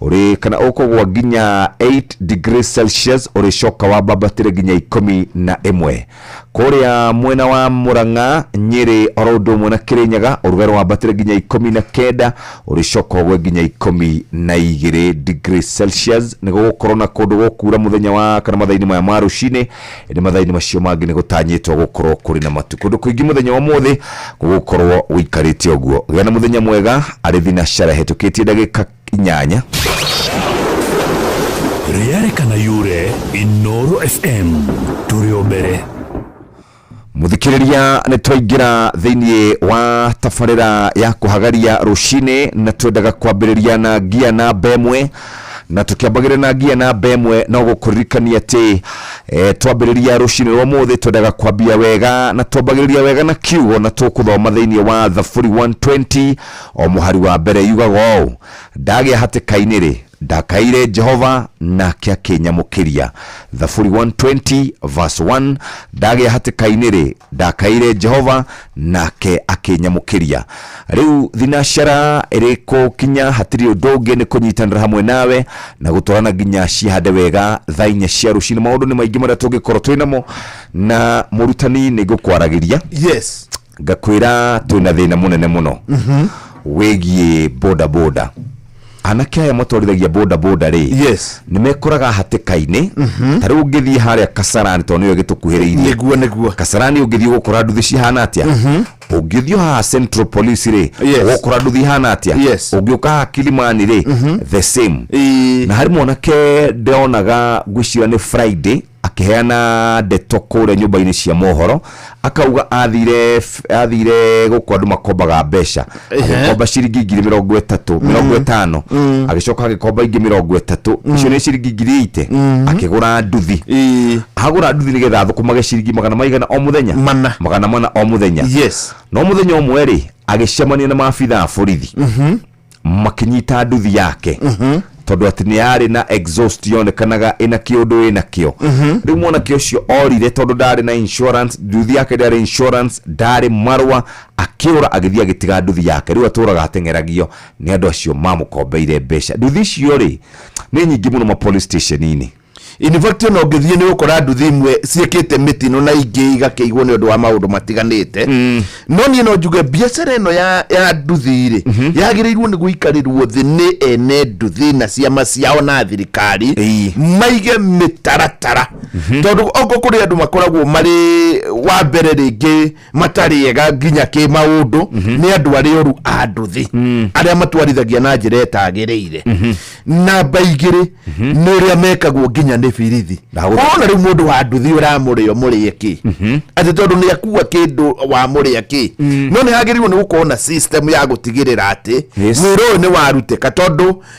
ũrĩ kana ũkũgwa nginya 8 degrees celsius ũrĩcoka wambabatĩre nginya ikũmi na ĩmwe kũrĩa mwena wa mũrang'a nyĩrĩ oro ũndũ ũmwe na kĩrĩnyaga ũrugarĩ wambatĩre nginya ikũmi na kenda ũrĩcoka ũgwe nginya ikũmi na igĩrĩ degrees celsius nĩ gũgũkorwo na kũndũ gũkuura mũthenya wa kana mathaa-inĩ maya ma rũcinĩ nĩ mathaa-inĩ macio mangĩ nĩ gũtanyĩtwo gũkorwo kũrĩ na matu kũndũ kũingĩ mũthenya wa ũmũthĩ gũgũkorwo gũikarĩte ũguo gĩa na mũthenya mwega arĩ thinacara hetũkĩtie ndagĩka inyanya. Rĩarekana yure Inooro FM tũrĩ o mbere. Mũthikĩrĩria nĩ twaingĩra thĩinĩ wa tabarĩra ya kũhagaria rũcinĩ na twendaga kwambĩrĩria na ngia namba ĩmwe na tũkĩambagĩrĩra na ngia namba ĩmwe no gũkũririkania atĩ e, twambĩrĩria rũcinĩ rwa mũthĩ twendaga kwambia wega na twambagĩrĩria wega na kiugo na tũkũthoma thĩinĩ wa Thaburi 120 O mũhari wa mbere yugaga ũũ, Ndagĩa hatĩka-inĩ-rĩ, ndakaĩire Jehova, nake akĩnyamũkĩria. Thaburi 120 verse 1, Ndagĩa hatĩka-inĩ-rĩ, ndakaĩire Jehova, nake akĩnyamũkĩria. Rĩu thinacara ĩrĩ kũkinya hatirĩ ũndũ ũngĩ nĩ kũnyitanĩra hamwe nawe na gũtwarana nginya ciĩhande wega thaa inya cia rũcinĩ. Maũndũ nĩ maingĩ marĩa tũngĩkorwo twĩ namo, na mũrutani nĩ ngũkwaragĩria yes ngakwĩra twĩna thĩna mũnene mũno wĩgiĩ boda boda anake aya matwarithagia boda boda rĩ yes nĩ mekoraga hatĩka-inĩ ta rĩu ũngĩthiĩ harĩa kasarani tondũ nĩyo ĩgĩtũkuhĩrĩirie nĩguo nĩguo kasarani ũngĩthiĩ ũgũkora nduthi cihana atĩa ũngĩthiĩ haha central police rĩ Yes. ũgũkora nduthi ihana atĩa Yes. ũngĩũka haha kilimani rĩ the same Ĩĩ. na harĩ mwanake ndĩronaga ngwĩciria nĩ friday akĩheana ndeto kũrĩa nyũmba-inĩ cia mohoro akauga athire athire gũkũ andũ makombaga mbeca Ehe. agĩkomba ciringi ngiri mĩrongo ĩtatũ mĩrongo ĩtano agĩcoka agĩkomba ingĩ mĩrongo ĩtatũ icio nĩ ciringi ngiri ite akĩgũra nduthi Ĩĩ. agũra nduthi nĩgetha athũkũmage ciringi magana maigana o mũthenya Mana. magana mana o mũthenya yes no mũthenya ũmwe rĩ agĩcemania na maabitha a borithi makĩnyita nduthi yake tondũ atĩ nĩ yarĩ na exhaust yonekanaga ĩna kĩũndũ ĩna kĩo rĩu mwanake ũcio orire tondũ ndarĩ na insurance nduthi yake ndarĩ insurance ndarĩ marũa akĩũra agĩthiĩ agĩtiga nduthi yake rĩu atũraga ateng'eragio nĩ andũ acio mamũkombeire mbeca nduthi icio rĩ nĩ nyingĩ mũno ma police station-inĩ In fact ona ũngĩthiĩ nĩ ũkora nduthi imwe ciĩkĩte mĩtino na ingĩ igakĩigwo nĩ ũndũ wa maũndũ matiganĩte no niĩ no njuge biacara ĩno ya, ya nduthi rĩ yagĩrĩirwo nĩ gũikarĩrwo thĩ nĩ ene nduthi na ciama ciao na thirikari Ĩi. maige mĩtaratara tondũ oko kũrĩ andũ makoragwo marĩ wa mbere rĩngĩ matarĩ ega nginya kä maũndũ nĩ andũ arĩa oru a ndũthĩ arĩa matwarithagia na njĩra ĩtagĩrĩire namba igĩrĩ nĩ ũrĩa mekagwo nginya nĩ birithi Ndagũtha- ona rĩu mũndũ wa nduthi ũramũrĩa mũrĩe kä atĩ tondũ nĩ akua kĩndũ wa mũrĩa kä no nĩ hagĩrĩirwo nĩ gũkorwo na system ya gũtigĩrĩra atĩ Yes. wĩra ũyũ nĩ warutĩka tondũ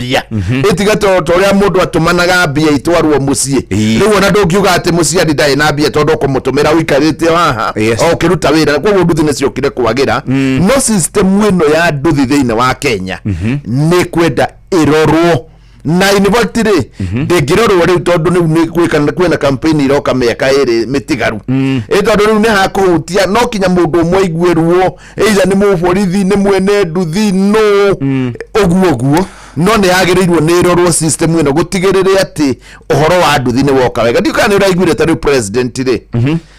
mbia itiga to to ria mundu atumanaga mbia itwarwo mucii Ii. riu ona ndungiuga ati muciari ndarĩ na mbia tondu kumutumira uikarite haha Yes. o ukiruta wira koguo nduthi nĩ ciokire kwagira no system ĩno ya nduthi thĩinĩ wa kenya nĩ kwenda ĩrorwo na in fact rĩ ndĩngĩrorwo rĩu tondũ rĩu nĩ gwĩka- kwĩna campaign iroka mĩaka ĩrĩ mĩtigaru ĩ tondũ rĩu nĩ hakũhutia no kinya mũndũ ũmwe aiguĩrwo either nĩ mũborithi nĩ mwene nduthi no ũguo ũguo no nĩ yagĩrĩirwo nĩ ĩrorwo system ĩno gũtigĩrĩre atĩ ũhoro wa nduthi nĩ woka wega ndiũ kana nĩ ũraiguire ta rĩu president rĩ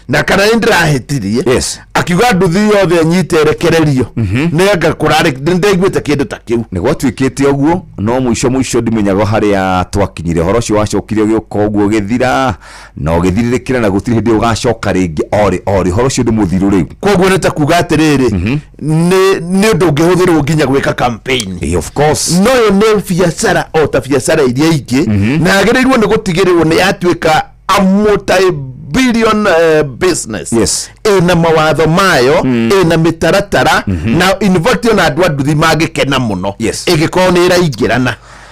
na kana nĩ ndĩrahĩtirie Yes. akiuga nduthi yothe ĩnyite rekererio nĩanga kũrarĩ nĩ ndaiguĩte kĩndũ ta kĩu nä gwatuä te å guo no må ico må ico ndimenyaga harä a twakinyire horo å cio wacokire å gä å ka å guo å gä thira na ũgĩthirirĩkĩra na gũtirĩ hĩndĩ ũgacoka rĩngĩ orĩ orĩ horo ũcio nĩ mũthiru rĩu koguo nĩ ta kuga atĩrĩrĩ mhm. nĩ nĩ ũndũ ũngĩhũthĩrwo nginya gwĩka campaign eh, of course no yo nĩ biacara o ta biacara iria ingĩ mhm. na yagĩrĩirwo nĩ gũtigĩrĩrwo nĩ yatuĩka a multi billion uh, business yes ina mawatho mayo mm. ina mitaratara mm -hmm. na involve na andũ a nduthi mangĩkena muno yes igikorwo ni iraingirana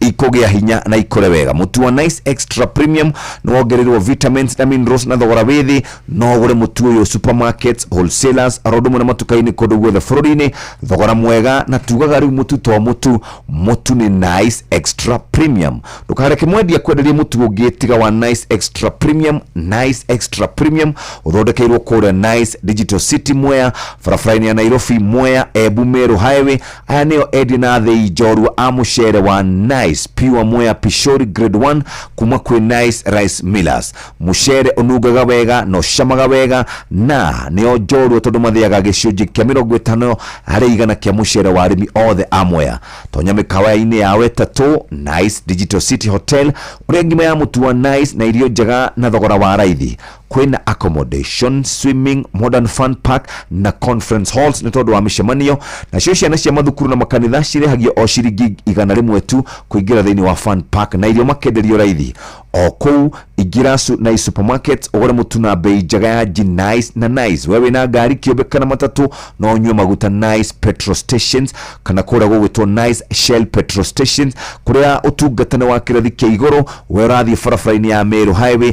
ikũgĩa hinya na ikũre wega mũtu wa nice extra premium nĩwongererwo vitamins na minerals na thogora wĩ thĩ no ũgũre mũtu ũyũ supermarkets wholesalers oro ũndũ ũmwe na matuka-inĩ kũndũ guothe bũrũri-inĩ thogora mwega na tugaga rĩu mũtu to mũtu mũtu nĩ nice extra premium ndũkareke mwendia kwenderie mũtu ũngĩ tiga wa nice extra premium nice extra premium ũthondekeirwo kũrĩa nice digital city mwea barabara-inĩ ya nairobi mwea embu meru highway Aya nĩo endi na athĩi njorua a mũcere wa Nice Pure Mwea Pishori Grade 1 kuma kwĩ Nice Rice Millers. Mũcere ũnungaga wega na ũcamaga wega na nĩo njorua tondũ mathĩaga gĩcunjĩ kĩa mĩrongo ĩtano harĩ igana kĩa mũcere wa arĩmi othe a Mwea. Tonya mĩkawa-inĩ ya Wetatũ, Nice Digital City Hotel ũrĩa ngima ya mũtu wa Nice na irio njega na thogora wa raithi. kwĩna accommodation swimming modern fun park na conference halls nĩ tondũ wa mĩcemanio nacio ciana cia mathukuru na makanitha cirĩhagio o ciringi igana rĩmwe tu kũingĩra thĩinĩ wa fun park na irio makenderio raithi o kũu ingĩra su- na supermarket ũgũre mũtu na mbei njega ya ji nice na nice we wĩna ngari kĩũmbe kana matatũ no ũnyue maguta nice petrol stations kana kũrĩa gũgwĩtwo nice shell petrol stations kũrĩa ũtungata nĩ wa kĩrathi kĩa igũrũ we ũrathiĩ barabara-inĩ ya Meru highway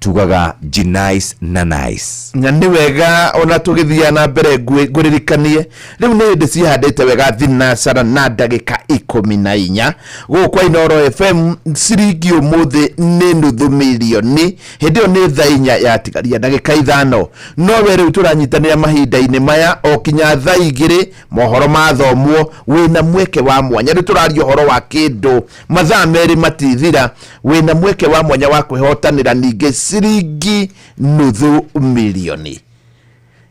tugaga jinais na nice na nĩ wega ona tũgĩthiaga na mbere ngwĩ- ngũririkanie rĩu nĩ hĩndĩ cihandĩte wega thinacara na ndagĩka ikũmi na inya gũkũ kwa inoro fm ciringi ũmũthĩ nĩ nuthu mirioni hĩndĩ ĩyo nĩ tha inya yatigaria ndagĩka ithano no we rĩu tũranyitanĩra mahinda-inĩ maya o kinya tha igĩrĩ mohoro mathomwo wĩna mweke wa mwanya rĩu tũraria ũhoro wa kĩndũ mathaa merĩ matithira wĩna mweke wa mwanya wa kwĩhotanĩra ningĩ ciringi nuthu milioni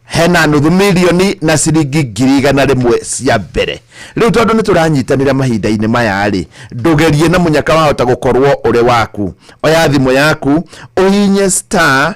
hena nuthu milioni na ciringi ngiri igana rĩmwe cia mbere rĩu tondũ nĩ tũranyitanĩra mahinda-inĩ maya-rĩ ndũgerie na mũnyaka wahota gũkorwo ũrĩ waku oya thimũ yaku ũhinye star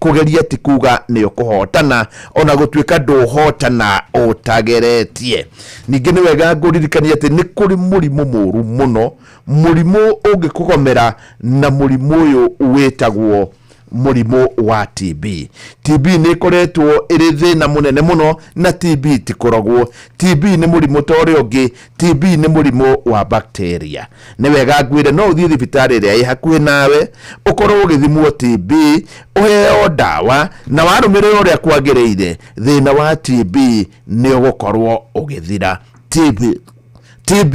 kũgeria ti kuga nĩ ũkũhotana ona gũtuĩka ndũhotana ũtageretie ningĩ nĩ wega ngũririkania atĩ nĩ kũrĩ mũrimũ mũru mũno mũrimũ ũngĩkũgomera na mũrimũ ũyũ wĩtagwo mũrimũ wa TB. TB nĩ ĩkoretwo ĩrĩ thĩna mũnene mũno na TB ti kũrogwo. TB nĩ mũrimũ ta ũrĩa ũngĩ, TB nĩ mũrimũ wa bacteria. Nĩ wega ngwĩre no ũthiĩ thibitarĩ ĩrĩa ĩ hakuhĩ nawe, ũkorwo ũgĩthimwo TB, ũheo ndawa, na warũmĩrĩra ũrĩa kwagĩrĩire, thĩna wa TB nĩ ũgũkorwo ũgĩthira. TB, TB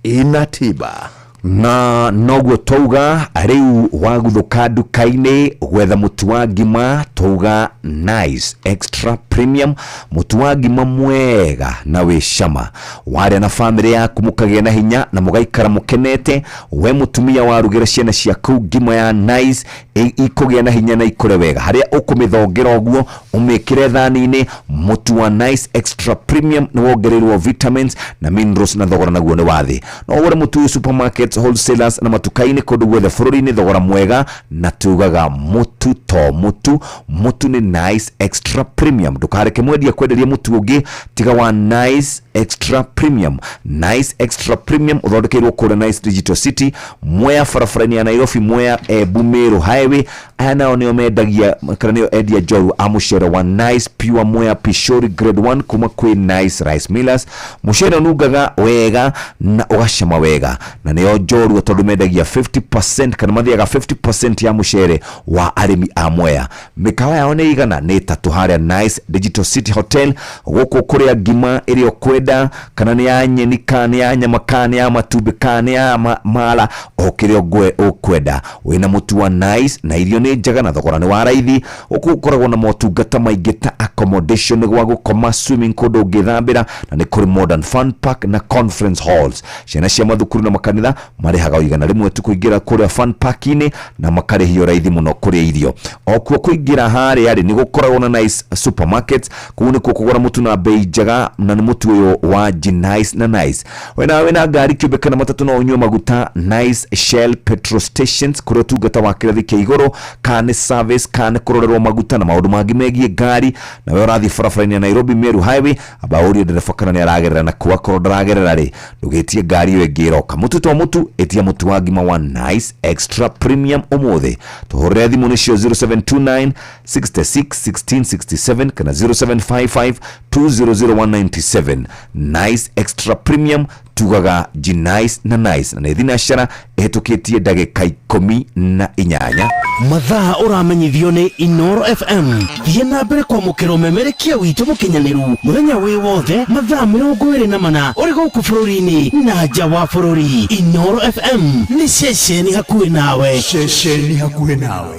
ĩna tiba. na noguo twauga rĩu waguthũka nduka-inĩ gwetha mũtu wa ngima twauga nice extra premium mũtu wa ngima mwega na wĩ cama warĩa na bamĩrĩ yaku mũkagĩa na hinya na mũgaikara mũkenete we mũtumia warugĩra ciana ciaku ngima ya nice i- ikũgĩa na hinya na ikũre wega harĩa ũkũmĩthongera ũguo umĩkĩre thani-inĩ mũtu wa nice extra premium nĩ wongereirwo vitamins na minerals na thogora naguo nĩ wathĩ no ũgũre mũtu ũyũ supermarkets wholesalers na matuka-inĩ kũndũ guothe bũrũri-inĩ thogora mwega na tugaga mũtu to mũtu mũtu nĩ nice extra premium ndũkareke mwendia kwenderie mũtu ũngĩ tiga wa nice extra premium nice extra premium ũthondekeirwo kũrĩa nice digital city mwea barabara-inĩ ya nairobi mwea embu mĩrũ highway aya nao nio mendagia kana nio endia njorua a mucere wa nice pure mwea pishori grade 1 kuma kwi nice rice millers mucere unungaga wega na ugacama wega na nio njorua tondu mendagia 50% kana mathiaga 50% ya mucere wa arimi a mwea mikawa yao ni igana ni tatu haria nice digital city hotel guku kuria ngima iri ukwenda kana ni ya nyeni kana ni ya nyama kana ni ya matumbĩ kana ni ya ma- mala o kiria ngwe ukwenda wĩna mũtu wa nice na irio nĩ njega na thogora nĩ wa raithi gũkũ gũkoragwo na motungata maingĩ ta accommodation gwa gũkoma swimming kũndũ ũngĩthambĩra na nĩ kũrĩ modern fun park na conference halls ciana cia mathukuru na makanitha marĩhaga igana rĩmwe tu kũingĩra kũrĩa fun park-inĩ na makarĩhio raithi mũno kũrĩa irio o kuo kũingĩra harĩa rĩ nĩ gũkoragwo na nice supermarkets kũu nĩkuo kũgũra mũtu na bei njega na nĩ mũtu ũyũ wa G nice na nice we nawe wĩ na ngari kĩũmbe kana matatũ no ũnyue maguta nice shell petrol stations kũrĩa ũtungata wa kĩrathi kĩa igũrũ kana nĩ service kana nĩ kũrorerwo maguta na maũndũ mangĩ megiĩ ngari na we ũrathiĩ barabara-inĩ ya nairobi meru highway amba ũrie ndereba kana nĩ aragerera na kuo akorwo ndaragerera rĩ ndũgĩtie ngari ĩyo ĩngĩ ĩroka mũtu to mũtu ĩtia mũtu wa ngima wa nice extra premium ũmũthĩ tũhũrĩre thimũ nĩcio 0729 66 16 67 kana 0755 200197 nice extra premium tugaga gnice na nice na nä thinacara ähetå tie ndagä ka ikå na inyanya mathaa ũramenyithio nĩ inoro fm thiĩ na mbere kwamũkĩra ũmemerekia witũ mũkinyanĩru mũthenya wĩ wothe mathaa mĩrongo ĩrĩ na mana ũrĩ gũkũ bũrũri-inĩ na nja wa bũrũri inoro fm nĩ ceceni hakuhĩ nawe ceceni hakuhĩ nawe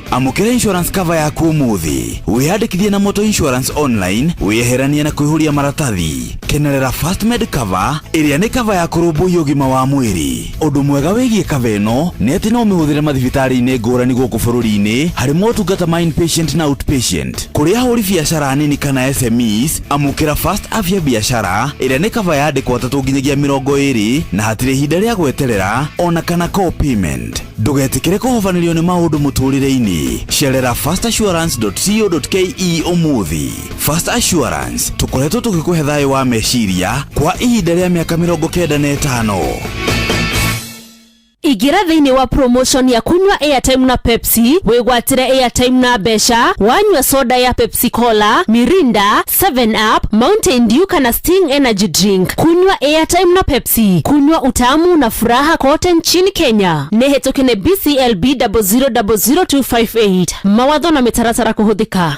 Amũkĩra insurance cover yaku ũmũthĩ. Wĩyandĩkithie na Moto Insurance online, wĩyeheranie na kũihũria maratathi. Kenerera First Med Cover, ĩrĩa nĩ cover ya kũrũmbũiya ũgima wa mwĩrĩ. Ũndũ mwega wĩgiĩ cover ĩno nĩ atĩ no ũmĩhũthĩre mathibitarĩ-inĩ ngũrani gũkũ bũrũri-inĩ harĩ motungata ma inpatient na outpatient. Kũrĩ ahũri biacara nini kana SMEs, amũkĩra First Afya Biashara, ĩrĩa nĩ cover ya andĩkwo atatũ nginyagia mĩrongo ĩrĩ na hatirĩ ihinda rĩa gweterera ona kana co-payment. Ndũgetĩkĩre kũhobanĩrio nĩ maũndũ mũtũũrĩre-inĩ. Cerera fastassurance.co.ke ũmũthĩ. Fast Assurance, tũkoretwo tũgĩkũhe thayũ wa meciria kwa ihinda rĩa mĩaka mĩrongo kenda na ĩtano. Ingĩra thĩinĩ wa promotion ya kunywa airtime na Pepsi wĩgwatĩre airtime na mbeca wanyua soda ya Pepsi Cola, Mirinda, 7 up mountain dew kana sting energy drink kunywa airtime na pepsi kunywa utamu na furaha kote nchini kenya nehetũkĩne bclb 0000258 mawatho na mĩtaratara kũhũthĩka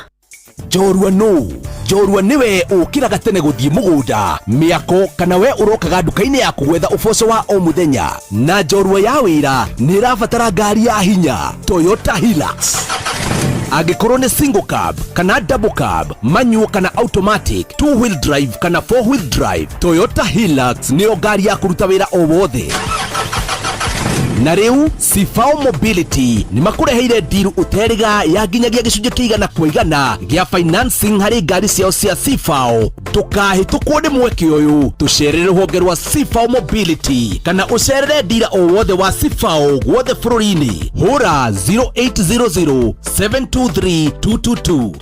njorua nũ njorua nĩwe ũkĩraga tene gũthiĩ mũgũnda mĩako kana we ũrokaga nduka-inĩ ya kũgwetha ũboco wa o mũthenya na njorua ya wĩra nĩ ĩrabatara ngari ya hinya toyota hilux angĩkorwo nĩ single cab kana double cab manual kana automatic two wheel drive kana four wheel drive toyota hilux nĩyo ngari ya kũruta wĩra o wothe na rĩu sifao mobility nĩ makũreheire ndiru ũteriga ya nginyagia gĩcunjĩ kĩigana kwa igana gĩa financing harĩ ngari ciao cia sifao ndũkahĩtũkwo nĩ mweke ũyũ tũcerere rũhonge rwa sifao mobility kana ũcerere ndira o wothe wa sifao guothe bũrũri-inĩ hũra 0800 723 222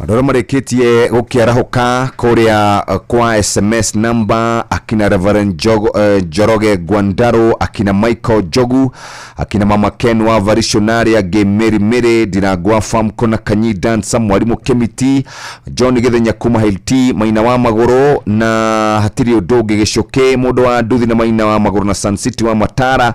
Andũ arĩa marĩkĩtie gũkĩarahũka kũrĩa eh, kwa sms number akina Reverend Jogo, eh, Njoroge Gwandaro akina Michael Jogu akina mama Ken wa Varishonari angĩ Mary Mary Ndirangwa Farm Kona Kanyi Dansa Mwarimũ Kemiti John Githenya kuma Hilti Maina wa Magũrũ na hatirĩ ũndũ ũngĩ gĩcũkĩ mũndũ wa nduthi na Maina wa Magũrũ na Sun City wa Matara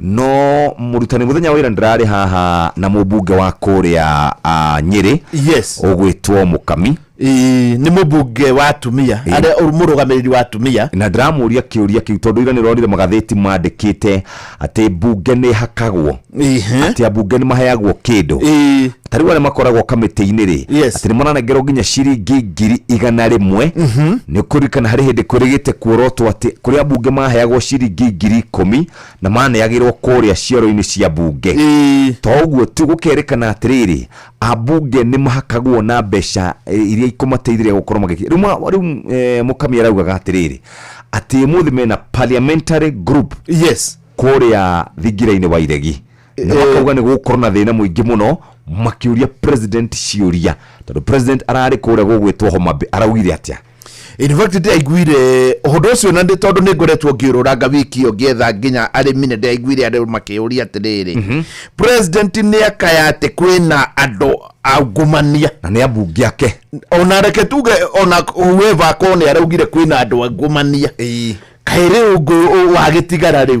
no mũrutani mũthenya wa ira ndĩrarĩ haha na mũmbunge wa kũrĩa ah, nyĩrĩ yes ũgwĩtwo mũkami Ĩ, nĩ mũmbunge wa atumia Ĩ. arĩa ũrĩ mũrũgamĩrĩri wa atumia na ndĩramũria kĩũria kĩu tondũ ira nĩ ronire magathĩti mandĩkĩte atĩ mbunge nĩ hakagwo Ĩhĩ. atĩ ambunge nĩ maheagwo kĩndũ Ĩ, ta rĩu arĩa makoragwo kamĩtĩ-inĩ rĩ Yes. atĩ nĩ maranengerwo nginya ciringi ngiri igana rĩmwe nĩ kũririkana harĩ hĩndĩ kwĩrĩgĩte kuorotwo atĩ kũrĩa mbunge maheagwo ciringi ngiri ikũmi na maneagĩrwo kũrĩa cioro-inĩ cia mbunge Ĩĩ. to ũguo tu gũkerĩkana atĩrĩrĩ ambunge nĩ mahakagwo na mbeca eh, iria ikũmateithĩrĩria gũkorwo magĩki rĩu ma- rĩu eh, mũkamia araugaga atĩrĩrĩ atĩ mũthĩ mena parliamentary group yes kũrĩa thingira-inĩ wa iregi na Eh. makauga nĩ gũgũkorwo na thĩna mũingĩ mũno makĩũria president ciũria tondũ president ararĩ kũrĩa gũgwĩtwo homa Bay, araugire atĩa In fact ndaiguire ũhũthũ ũcio na nĩ tondũ nĩ ngoretwo ngĩũrũranga wiki ĩyo ngĩetha nginya arĩmi nĩ ndaiguire andũ makĩũria atĩrĩrĩ mhm. president nĩ akaya atĩ kwĩna andũ angumania na nĩ ambunge ake ona reke tuge ona whoever akorwo nĩ araugire kwĩna andũ angumania kaĩ rĩu ngũ wagĩtigara rĩu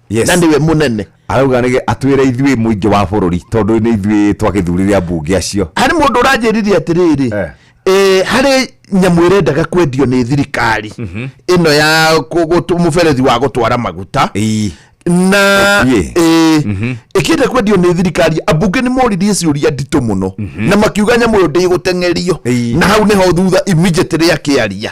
Yes. na nĩwe mũnene arauga nĩ atwĩre ithuĩ mũingĩ wa bũrũri tondũ nĩ ithuĩ twagĩthurire ambunge acio harĩ mũndũ ũranjĩrire atĩrĩrĩ Eh. eh, harĩ nyamũ ĩrendaga kwendio nĩ thirikari ĩno ya kũ- gũtũ- mũberethi wa gũtwara maguta Ii. na Ĩkuĩ. eh, ĩkĩenda kwendio nĩ thirikari ambunge nĩ moririe ciũria nditũ mũno na makiuga nyamũ ĩyo ndĩgũteng'erio Ĩi. na hau nĩho thutha immediately akĩaria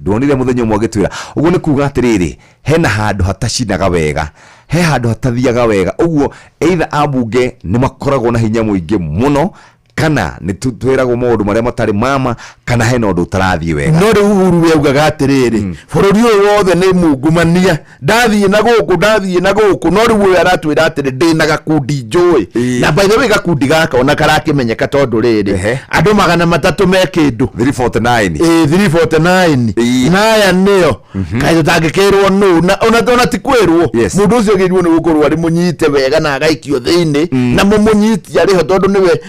Ndwonire mũthenya ũmwe agĩtwĩra, ũguo nĩ kuuga atĩrĩrĩ, hena handũ hatacinaga wega, he handũ hatathiaga wega, ũguo either ambunge nĩ makoragwo na hinya mũingĩ mũno, kana nĩ tũ- twĩragwo maũndũ marĩa matarĩ mama, kana hena ũndũ ũtarathiĩ wega. no rĩu uhuru we augaga atĩrĩrĩ bũrũri ũyũ wothe nĩ mungumania ndathiĩ na gũkũ ndathiĩ na gũkũ no rĩu ũyũ aratwĩra atĩrĩ ndĩ na gakundi njũĩ Ĩĩ. na by the way gakundi gaka ona karakĩmenyeka tondũ rĩrĩ Ehe. andũ magana matatũ me kĩndũ 349 Ĩĩ, 349 Ĩĩ. na aya nĩo kaĩ tũtangĩkĩrwo nũ na ona ona ti kwĩrwo Yes. mũndũ ũcio agĩrĩirwo nĩ gũkorwo arĩ mũnyite wega na agaikio thĩinĩ na mũmũnyitia arĩho tondũ nĩwe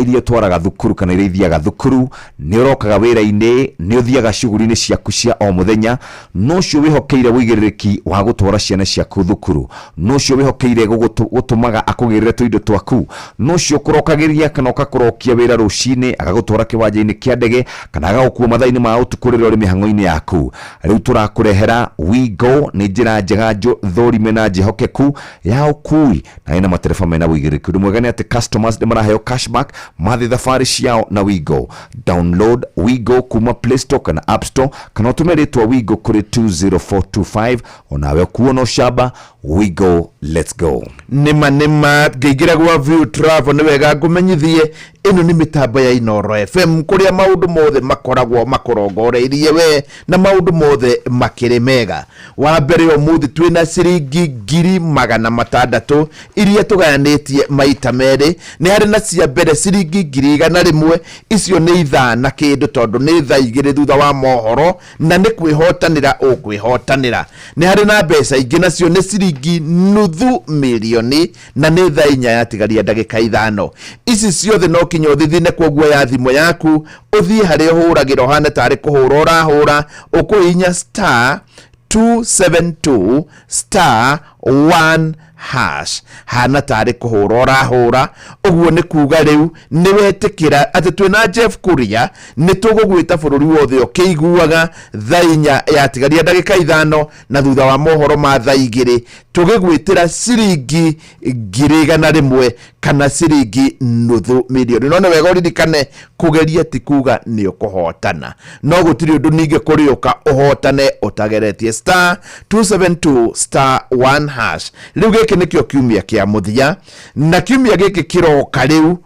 iria ũtwaraga thukuru kana iria ithiaga thukuru, nĩ ũrokaga wĩra-inĩ, nĩ ũthiaga cuguri-inĩ ciaku cia o mũthenya, na ũcio wĩhokeire ũigĩrĩrĩki wa gũtwara ciana ciaku thukuru, na ũcio wĩhokeire gũtũmaga akũgĩrĩre tũindo twaku, na ũcio ũkũrokagĩria kana ũgakũrokia wĩra rũcinĩ, agagũtwara kĩwanja-inĩ kĩa ndege, kana agagũkua mathaa-inĩ ma ũtukũ rĩrĩa ũrĩ mĩhang'o-inĩ yaku. Rĩu tũrakũrehera We Go nĩ njĩra njega njũthũrime na njĩhokeku, ya ũkui na ĩna matereba mena ũigĩrĩrĩki ũndũ mwega nĩ atĩ customers nĩ maraheo cashback mathiĩ thabarĩ ciao na wigo download wigo kuma play store kana app store kana ũtũme rĩtwa wigo kũrĩ 20425 onawe ũkuo no camba wigo let's go nĩma nĩma ngĩingĩra gwa view travel nĩ wega ngũmenyithie ĩno nĩ mĩtambo ya inoro fm kũrĩa maũndũ mothe makoragwo makũrongoreirie we na maũndũ mothe makĩrĩ mega Wa mbere ũmũthĩ twĩ na ciringi ngiri magana matandatũ iria tũgayanĩtie maita merĩ. Nĩ harĩ na cia mbere ciringi ngiri igana rĩmwe, icio nĩ ithaa na kĩndũ tondũ nĩ thaa igĩrĩ thutha wa mohoro na nĩ kwĩhotanĩra ũkwĩhotanĩra. Nĩ harĩ na mbeca ingĩ nacio nĩ ciringi nuthu mirioni. na nĩ thaa inya yatigaria ndagĩka ithano ici ciothe no kinya ũthithine kwoguo ya thimũ yaku ũthiĩ harĩa ũhũragĩra ũhane tarĩ kũhũra ũrahũra ũkũhinya star 272 star 1 hash hana tarĩ kũhũra ũrahũra ũguo nĩ kuga rĩu nĩ wetĩkĩra atĩ twĩ na jeff kuria nĩ tũgũgwĩta bũrũri wothe ũkĩiguaga thaa inya yatigaria ndagĩka ithano na thutha wa mohoro ma tha igĩrĩ tũgĩgwĩtĩra ciringi ngiri igana rĩmwe kana ciringi nuthu milioni no nĩ wega ũririkane kũgeria ti kuga nĩ ũkũhotana no gũtirĩ ũndũ ningĩ kũrĩũka ũhotane ũtageretie star 272 star 1 hash rĩu gĩkĩ nĩkĩo kiumia kĩa mũthia na kiumia gĩkĩ kĩroka rĩu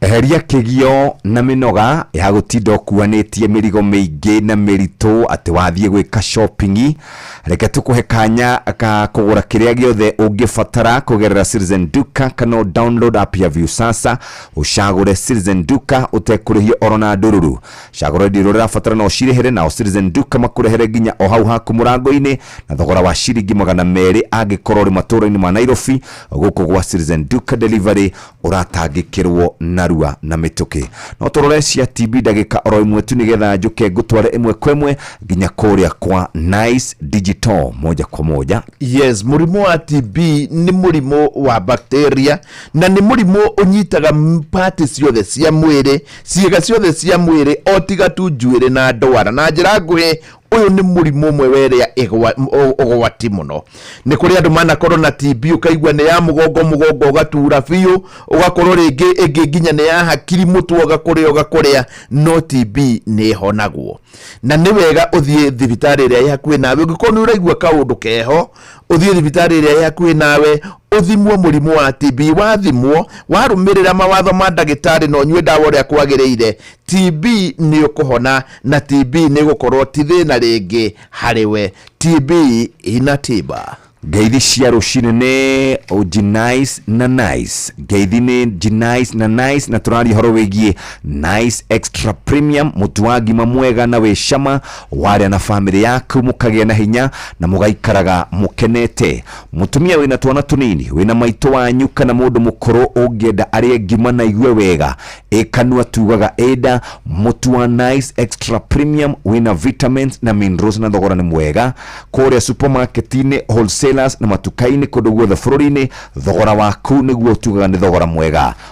Eheria kĩgio na mĩnoga ya gũtinda ũkuanĩtie mĩrigo mĩingĩ na mĩritũ atĩ wathiĩ gwĩka shopping. Reke tũkũhe kanya ka kũgũra kĩrĩa gĩothe ũngĩbatara kũgerera Citizen Duka kana ũ download app ya Viusasa ũcagũre Citizen Duka ũtekũrĩhio oro na ndũruru. Cagũra indo iria ũrabatara na ũcirĩhĩre nao Citizen Duka makũrehere nginya o hau haku mũrango-inĩ na thogora wa ciringi magana merĩ angĩkorwo ũrĩ matũra-inĩ ma Nairobi gũkũ gwa Citizen Duka Delivery ũratangĩkĩrwo narua na mĩtũkĩ no tũrore cia tb ndagĩka oro ĩmwe tu nĩgetha njũke ngũtware ĩmwe kwa ĩmwe nginya kũrĩa kwa nice digital moja kwa moja yes mũrimũ wa tb nĩ mũrimũ wa bacteria na nĩ mũrimũ ũnyitaga m- pati ciothe cia mwĩrĩ ciĩga ciothe cia mwĩrĩ o tiga tu njuĩrĩ na ndwara na njĩra nguhĩ ũyũ nĩ mũrimũ ũmwe wa ĩrĩa ĩgwa- m- ũ- ũgwati mũno nĩ kũrĩ andũ manakorwo na TB ũkaigua nĩ ya mũgongo mũgongo ũgatura biũ ũgakorwo rĩngĩ ĩngĩ nginya nĩ ya hakiri mũtwe ũgakũrĩa ũgakũrĩa no TB nĩ ĩhonagwo na nĩ wega ũthiĩ thibitarĩ ĩrĩa ĩ hakuhĩ nawe ũngĩkorwo nĩ ũraigua kaũndũ keho ũthiĩ thibitarĩ ĩrĩa ĩ hakuhĩ nawe ũthimwo mũrimũ wa TB wathimwo warũmĩrĩra mawatho ma ndagĩtarĩ na ũnyue ndawa ũrĩa kwagĩrĩire TB nĩ ũkũhona na TB nĩ gũkorwo ti thĩna rĩngĩ harĩ we TB ina tiba ngeithi cia rũcinĩ nĩ Genice na Nice ngeithi nĩ Genice na Nice na tũraria ũhoro wĩgiĩ Nice Extra Premium mũtu wa ngima mwega na wĩ cama waria na family yaku mukagia na hinya na mugaikaraga mukenete mutumia wina twana tunini wina maitå wanyu kana mundu mukuru ungienda arie ngima na igue wega ikanua tugaga eda mutu wa nice extra premium wina vitamins na minerals na thogora ni mwega kuria supermarket-ini wholesalers na matuka-ini kundu guothe bururi-ini thogora waku niguo tugaga ni thogora mwega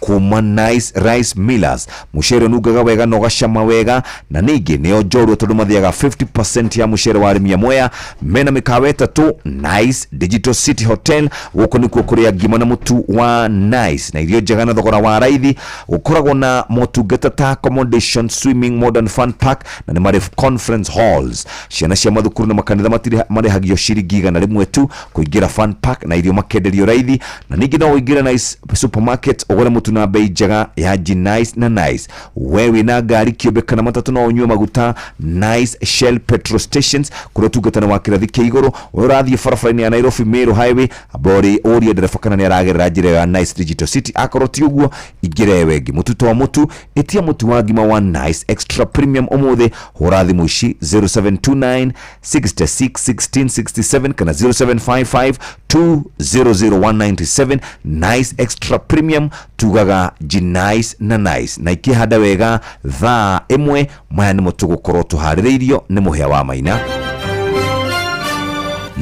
kuma Nice Rice Millers mucere nugaga wega na ũgacama wega na ningĩ nĩo njorua tondũ mathiaga 50% ya mucere wa arĩmi amwe mena mĩkawa ĩtatũ Nice Digital City Hotel gũkũ nĩkuo kũrĩa ngima na mũtu wa Nice na irio njega na thogora wa raithi gũkoragwo na motungata ta accommodation swimming modern fun park na nĩ marĩ conference halls ciana cia mathukuru na makanitha matire- marĩhagio ciringi igana rĩmwe tu kũingĩra fan pack na irio makenderio raithi na ningĩ no ũingĩre nice supermarket ũgũre mũtu na mbei njega ya ji nice na nice we wĩna ngari kĩũmbe kana matatũ no ũnyue maguta nice shell petrol stations kũrĩa ũtungatani wa kĩrathi kĩa igũrũ ũrĩa ũrathiĩ barabara-inĩ ya nairobi meru highway ambao rĩ ũrie ndereba kana nĩ aragerera njĩra ĩyo ya nice digital city akorwo ti ũguo ingĩra ĩyo ĩngĩ mũtu to mũtu ĩtia mũtu wa ngima wa nice extra premium ũmũthĩ hũra thimũ ici 0729 661667 kana 0755200197 nice extra premium tugaga ji nice na nice na ikihanda wega thaa imwe maya nimo tugukorwo tuhaririirio ni muhia wa maina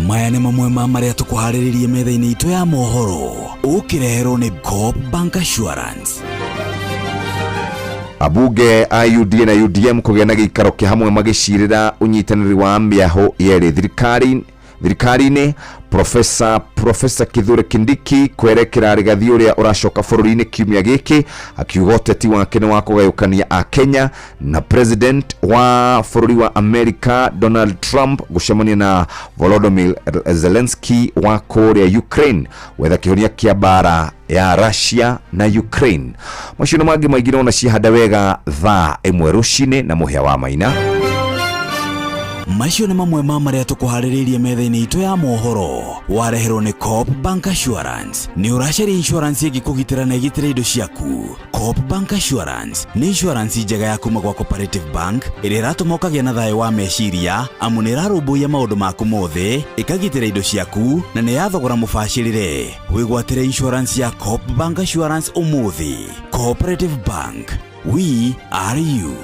maya nĩ mamwe ma marĩa tũkũharĩrĩirie metha-inĩ itũ ya mohoro ũkĩreherwo nĩ Coop Bank Assurance Abunge a UDA na UDM kũgĩa na gĩikaro kĩa hamwe magĩcirĩra ũnyitanĩri wa mĩaho yerĩ thirikari thirikari-inĩ Profesa Profesa Kithure Kindiki kwerekera rigathi ũrĩa ũracoka bũrũri-inĩ kiumia gĩkĩ akiuga ũteti wake nĩ wa kũgayũkania a Kenya na president wa bũrũri wa Amerika Donald Trump gũcemania na Volodymyr Zelensky wa kũrĩa Ukraine gwetha kĩhonia kĩa mbara ya Russia na Ukraine macindano mangĩ maingĩ nona ciahanda wega thaa ĩmwe rũcinĩ na mũhĩa wa maina macio nĩ mamwe ma marĩa tũkũharĩrĩirie metha-inĩ itũ ya mohoro wareherwo nĩ cop bank assurance nĩ ũracaria insurance ĩngĩkũgitĩra na ĩgitĩre indo ciaku cop bank assurance nĩ insurance njega ya kuma gwa cooperative bank ĩrĩa ĩratũma ũkagĩa na thayũ wa meciria amu nĩ ĩrarũmbũiya maũndũ maku mothe ĩkagitĩra indo ciaku na nĩ ya thogora mũbacĩrĩre wĩgwatĩre insurance ya coop bank assurance ũmũthĩ cooperative bank we are you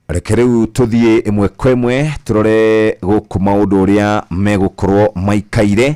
reke rĩu tũthiĩ ĩmwe kwa ĩmwe tũrore gũkũ maũndũ ũrĩa megũkorwo maikaire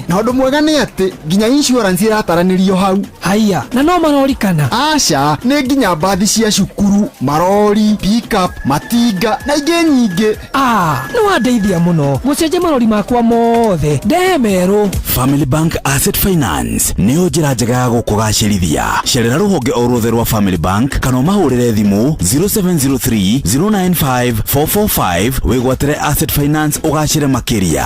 na ũndũ mwega nĩ atĩ nginya insurance ĩrataranĩrio hau haiya na no marorikana aca nĩ nginya mbathi cia cukuru marori pickup matinga na ingĩ nyingĩ a nĩ wandeithia mũno gũcenjia marori makwa mothe ndehe merũ Family Bank Asset Finance nĩyo njĩra njega ya gũkũgacĩrithia. Cerera rũhonge o ruothe rwa Family Bank kana ũmahũrĩre thimũ 0703 095 445 wĩgwatĩre Asset Finance ũgacĩre makĩria.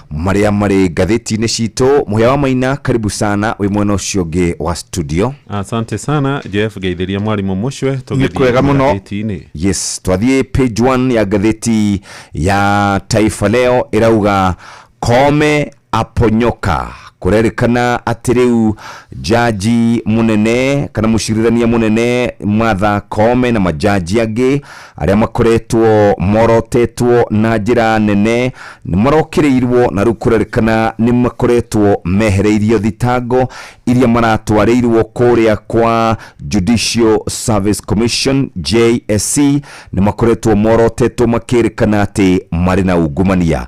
marĩa marĩ ngathĩti-inĩ citũ mũhĩa wa maina karibu sana wĩ mwena ũcio ũngĩ wa studio asante sana jeff geithĩria mwarimũ mũcwe Nĩ kwega mũno. tũgĩthiinĩ yes twathiĩ page one ya ngathĩti ya taifa leo ĩrauga kome aponyoka kũrerĩkana atĩ rĩu jaji mũnene kana mũcirithania mũnene matha kome na majaji angĩ arĩa makoretwo morotetwo na njĩra nene nĩ marokĩrĩirwo na rĩu kũrerĩkana nĩ makoretwo mehereirio thitango iria maratwarĩirwo kũrĩa kwa Judicial Service Commission JSC nĩ makoretwo morotetwo makĩrĩkana atĩ marĩ na ungumania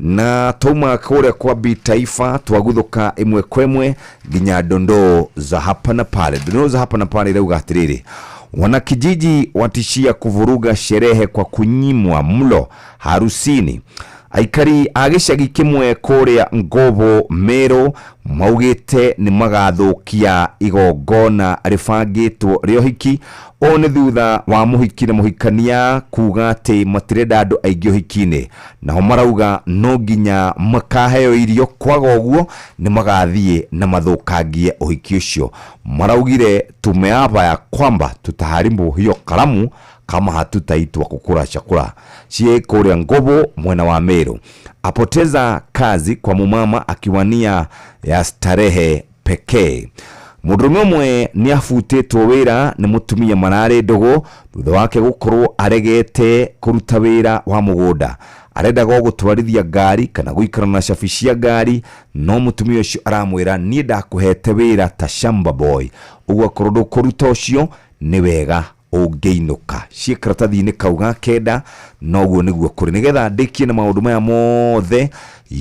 na twauma kũrĩa kwa bi taifa twaguthũka ĩmwe kwa ĩmwe nginya ndondoo za hapa na pale ndondoo za hapa na pale irauga atĩrĩrĩ wanakijiji watishia kuvuruga sherehe kwa kunyimwa mlo harusini aikari a gĩcagi kĩmwe kũrĩa ngobo merũ maugĩte nĩ magathũkia igongona rĩbangĩtwo rĩa ũhiki ũũ nĩ thutha wa mũhiki na mũhikania kuga atĩ matirenda andũ aingĩ ũhiki-inĩ naho marauga no nginya makaheo irio kwaga ũguo nĩ magathiĩ na mathũkangie ũhiki ũcio maraugire tumeapa ya kwamba tutaharibu hiyo karamu kama hatutaitwa kukula chakula sie kũrĩa ngobo mwena wa Meru apoteza kazi kwa mumama akiwania ya starehe pekee mũndũrũme ũmwe nĩ abutĩtwo wĩra nĩ mũtumia mararĩ ndũgũ thutha wake gũkorwo aregete kũruta wĩra wa mũgũnda arendaga o gũtwarithia ngari kana gũikara na cabi cia ngari no mũtumia ũcio aramwĩra niĩ ndakũhete wĩra ta shamba boy ũguo akorwo ndũkũruta ũcio nĩ wega ũngĩinũka ciĩ karatathi-inĩ kau ga kenda noguo nĩguo kũrĩ nĩgetha ndĩkie na maũndũ maya mothe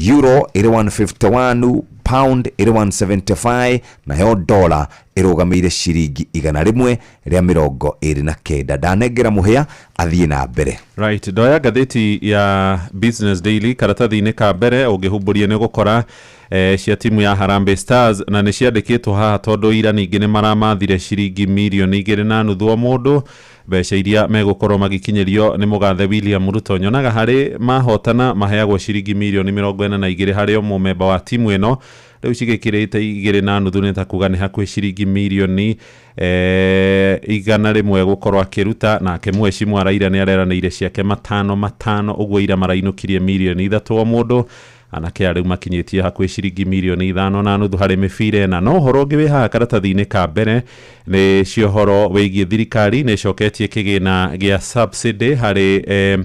euro ĩrĩ 151 pound ĩrĩ 175 nayo dola ĩrũgamĩire ciringi igana rĩmwe rĩa mĩrongo ĩrĩ na kenda ndanengera mũhĩa athiĩ na mbere Right, ndoya ngathĩti ya Business Daily karatathi-inĩ ka mbere ũngĩhumbũria nĩ ũgũkora Ee, cia timu ya Harambee Stars, na nĩ ciandĩkĩtwo haha tondũ ira ningĩ nĩ maramathire ciringi mirioni igĩrĩ na nuthu o mũndũ, mbeca iria megũkorwo magĩkinyĩrio nĩ mũgathe William Ruto. Nyonaga harĩ mahotana maheagwo ciringi mirioni mĩrongo ĩna na igĩrĩ harĩ o mũmemba wa timu ĩno, rĩu cigĩkĩrĩte igĩrĩ na nuthu nĩ ta kuga nĩ hakuhĩ ciringi mirioni ee, igana rĩmwe gũkorwo akĩruta, nake Mweshi Mwaraire nĩ areranĩire ciake matano matano, ũguo ira marainũkirie mirioni ithatũ o mũndũ, Anake a rĩu makinyĩtie hakuhĩ ciringi mirioni ithano na nuthu harĩ mĩbira ĩna. No ũhoro ũngĩ wĩ haha karatathi-inĩ ka mbere nĩ cio ũhoro wĩgiĩ thirikari nĩ ĩcoketie kĩgĩna gĩa subsidy harĩ eh,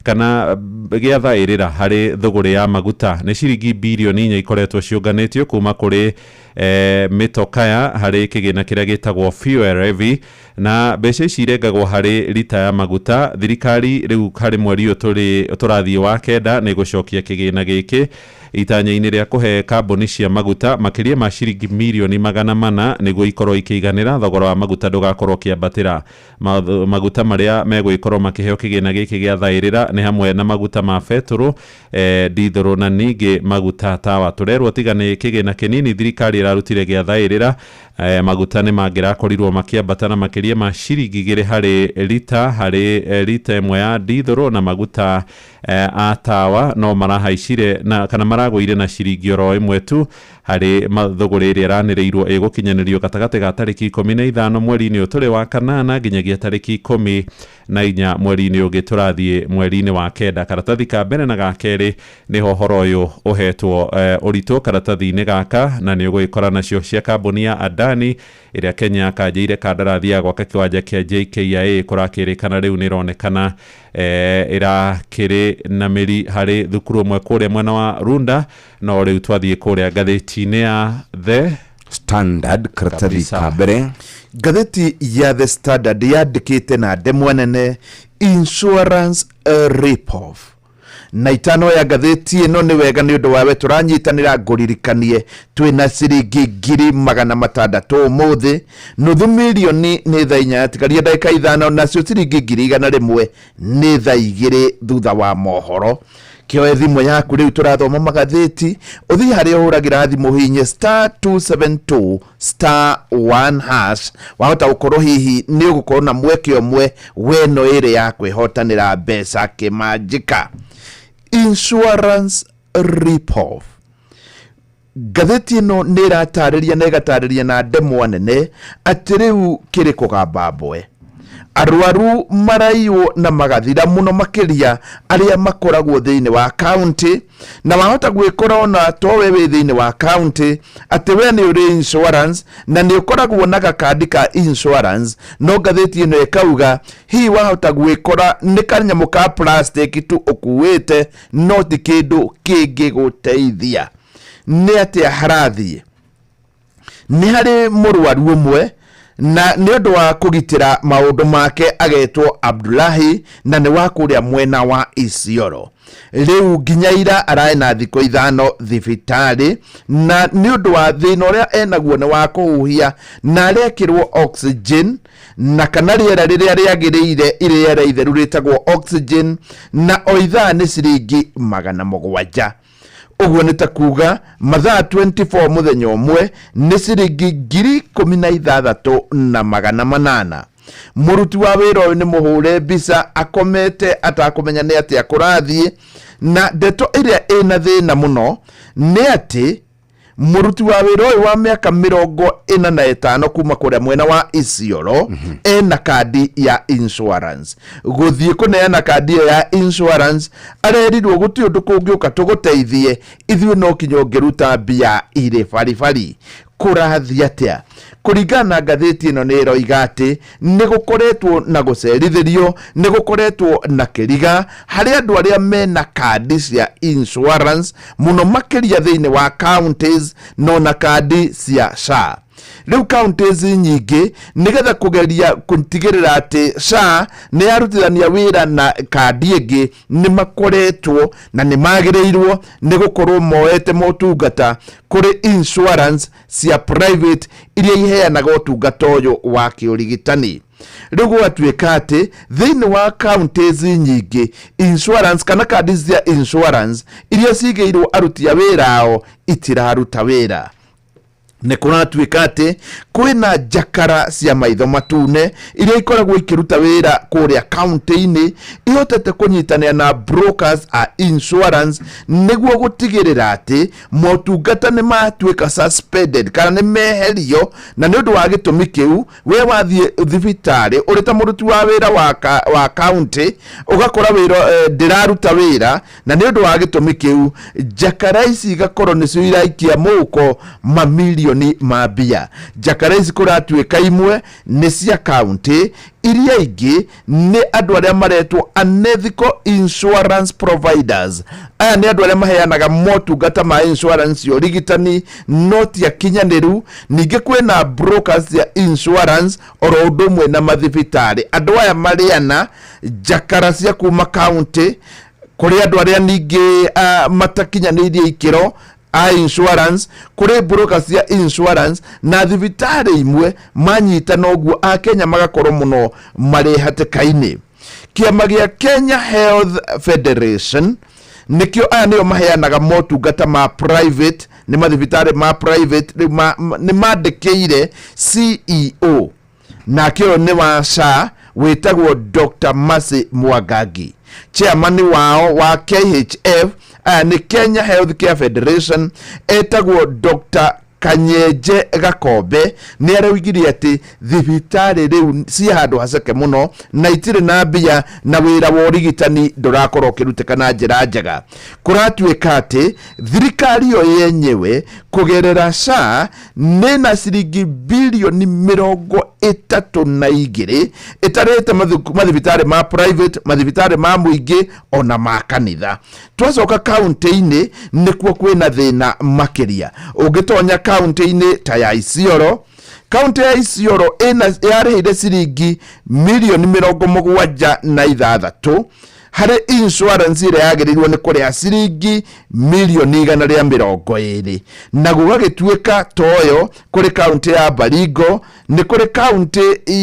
kana gĩa thaĩrĩra harĩ thũgũrĩ ya maguta nĩ ciringi birioni inya ikoretwo ciũnganĩtio kuma kũrĩ eh, mĩtokaya harĩ kĩgĩna kĩrĩa gĩtagwo fuel levy Na mbeca ici irengagwo harĩ rita ya maguta, thirikari rĩu harĩ mweri ũyũ tũrĩ tũrathiĩ wa kenda nĩ ĩgũcokia kĩgĩna gĩkĩ itanya-inĩ rĩa kũhe kambuni cia maguta makĩria ma ciringi mirioni magana mana nĩguo ikorwo ikĩiganĩra thogora wa maguta ndũgakorwo ũkĩambatĩra. Maũndũ maguta marĩa megũgĩkorwo makĩheo kĩgĩna gĩkĩ gĩa thaĩrĩra nĩ hamwe na maguta ma betũrũ, ndithũrũ na ningĩ maguta tawa. Tũrerwo tiga nĩ kĩgĩna kĩnini thirikari ĩrarutire gĩa thaĩrĩra, E, maguta nĩ mangĩrakorirwo makĩambata na makĩria ma ciringi igĩrĩ harĩ rita harĩ e, rita ĩmwe ya ndithũrũ na maguta e, a tawa no marahaicire na kana maragũire na ciringi oro ĩmwe tu harĩ ma- thũgũrĩ ĩrĩa ĩranĩrĩirwo ĩgũkinyanĩrio gatagatĩ ga tarĩki ikũmi na ithano mweri-inĩ ũyũ tũrĩ wa kanana nginyagia tarĩki ikũmi na inya mweri-inĩ ũngĩ tũrathiĩ mweri-inĩ wa kenda karatathi ka mbere na ga kerĩ nĩho ũhoro ũyũ ũhetwo eh, ũritũ karatathi-inĩ gaka na nĩ ũgũgĩkora nacio cia kambuni ya Adani ĩrĩa Kenya yakanjĩire kandarathi ya gwaka kĩwanja kĩa JKIA kũrakĩrĩkana rĩu nĩ ĩronekana eh, ĩrakĩrĩ na mĩri harĩ thukuru ũmwe kũrĩa mwena wa Runda no rĩu twathiĩ kũrĩa ngathĩti-inĩ ya the standard karatathi Kabisa. ka mbere ngathĩti ya the standard yandĩkĩte na ndemwa nene insurance uh, ripoff na itano ya ngathĩti ĩno nĩ wega nĩ ũndũ wawe tũranyitanĩra ngũririkanie twĩ na ciringi ngiri magana matandatũ ũmũthĩ nuthu milioni nĩ thaa inya yatigaria ndagĩka ithano nacio ciringi ngiri igana rĩmwe nĩ thaa igĩrĩ thutha wa mohoro kĩoe thimũ yaku rĩu tũrathoma magathĩti ũthiĩ harĩa ũhũragĩra thimũ hihinye star 272 star 1 hash wahota gũkorwo hihi nĩ ũgũkorwo na mweke ũmwe weno ĩrĩ ya kwĩhotanĩra mbeca kĩmanjĩka insurance ripoff Ngathĩti ĩno nĩ ĩratarĩria na ĩgatarĩria na ndemwa nene atĩ rĩu kĩrĩ kũgamba mboe. Arwaru maraiywo na magathira mũno makĩria arĩa makoragwo thĩinĩ wa kaũntĩ, na wahota gwĩkora ona to we wĩ thĩinĩ wa kaũntĩ atĩ we nĩ ũrĩ insurance na nĩ ũkoragwo na gakandi ka insurance, no ngathĩti ĩno ĩkauga hihi wahota gwĩkora nĩ kanyamũ ka plastic tu ũkuĩte no ti kĩndũ kĩngĩgũteithia nĩ atĩa harathiĩ nĩ harĩ mũrwaru ũmwe na nĩ ũndũ wa kũgitĩra maũndũ make agetwo abdulahi na nĩ wa kũrĩa mwena wa isioro rĩu nginya ira araĩ na thikũ ithano thibitarĩ na nĩ ũndũ wa thĩna ũrĩa enaguo nĩ wa kũhuhia na arekĩrwo oxygen na kana rĩera rĩrĩa rĩagĩrĩire irĩera itheru rĩtagwo oxygen na o ithaa nĩ ciringi magana mũgwanja ũguo nĩ ta kuga mathaa 24 mũthenya ũmwe nĩ ciringi ngiri ikũmi na ithathatũ na magana manana mũruti wa wĩra ũyũ nĩ mũhũre mbica akomete atakũmenya nĩ atĩa kũrathiĩ na ndeto ĩrĩa ĩna thĩna mũno nĩ atĩ muruti wa wira uyu wa miaka mirongo ina na itano kuma kuria mwena wa Isiolo mhm. ena kandi ya insurance guthie kuneana kandi iyo ya insurance arerirwo guti undu kungiuka tuguteithie ithui no kinya ungiruta mbia iri baribari kurathi atia kuringana na ngathĩti ĩno nĩ ĩroiga atĩ nĩ gũkoretwo na gũcerithĩrio nĩ gũkoretwo na kĩriga harĩ andũ arĩa mena kandi cia insurance mũno makĩria thĩinĩ wa counties no na kandi cia SHA rĩu counties nyingĩ nĩgetha kũgeria gũtigĩrĩra atĩ SHA nĩ yarutithania wĩra na kandi ĩngĩ nĩ makoretwo na nĩ magĩrĩirwo nĩ gũkorwo moete motungata kũrĩ insurance cia private iria iheanaga ũtungata ũyũ wa kĩũrigitani rĩu gwatuĩka atĩ thĩinĩ wa counties nyingĩ insurance kana kandi cia insurance iria cigĩirwo aruti a wĩra ao itiraruta wĩra nĩ kũratuĩka atĩ kwĩna njakara cia maitho matune iria ikoragwo ikĩruta wĩra kũrĩa kaunti-inĩ ihotete kũnyitanĩra na brokers a insurance nĩguo gũtigĩrĩra atĩ motungata nĩ matuĩka suspended kana nĩ meherio na nĩ ũndũ wa gĩtũmi kĩu we wathiĩ thibitarĩ ũrĩ ta mũruti wa wĩra wa ka- wa kaunti ũgakora wĩra eh, ndĩraruta wĩra na nĩ ũndũ wa gĩtũmi kĩu njakara ici igakorwo nĩcio iraikia mũhuko mamilioni ma mbia njakara ici kũratuĩka imwe nĩ cia kaunti iria ingĩ nĩ andũ arĩa maretwo unethical insurance providers aya nĩ andũ arĩa maheanaga motungata ma insurance ya ũrigitani no ti akinyanĩru ningĩ kwĩna brokers cia insurance oro ũndũ ũmwe na mathibitarĩ andũ aya marĩana njakara cia kuma kaunti kũrĩ andũ arĩa ningĩ ah, matakinyanĩirie ikĩro a insurance kuri broker cia insurance na thibitarĩ imwe manyita noguo a Kenya magakorwo mũno marĩ hatĩka-inĩ kĩama gĩa Kenya Health Federation nĩkĩo aya nĩo maheanaga motungata ma private nĩ mathibitarĩ ma private rĩu ma- ma- nĩ mandĩkĩire CEO nake ũyũ nĩ wa SHA wĩtagwo Dr. Mercy Mwangangi chairman wao wa KHF aya nĩ Kenya Health Care Federation etagwo Dr. Kanyenje Gakombe nĩ araugirie atĩ thibitarĩ rĩu ciĩ handũ haceke mũno na itirĩ na mbia na wĩra wa ũrigitani ndũrakorwo ũkĩrutĩka na njĩra njega kũratuĩka atĩ thirikari ĩyo yenyewe kũgerera SHA nĩ na ciringi bilioni mĩrongo ĩtatũ na igĩrĩ ĩtarĩte mathu- mathibitarĩ ma private mathibitarĩ ma mũingĩ ona ma kanitha twacoka kaunti-inĩ nĩkuo kwĩna thĩna makĩria ũngĩtonya kaunti-inĩ ta ya isioro kaunti ya isioro ĩna- yarĩhĩire ciringi milioni mĩrongo mũgwanja na ithathatũ harĩ insurance ĩrĩa yagĩrĩirwo nĩ kũrĩha ciringi mirioni igana rĩa mĩrongo ĩrĩ na gũgagĩtuĩka toyo kũrĩ kaunti ya Baringo nĩ kũrĩ kaunti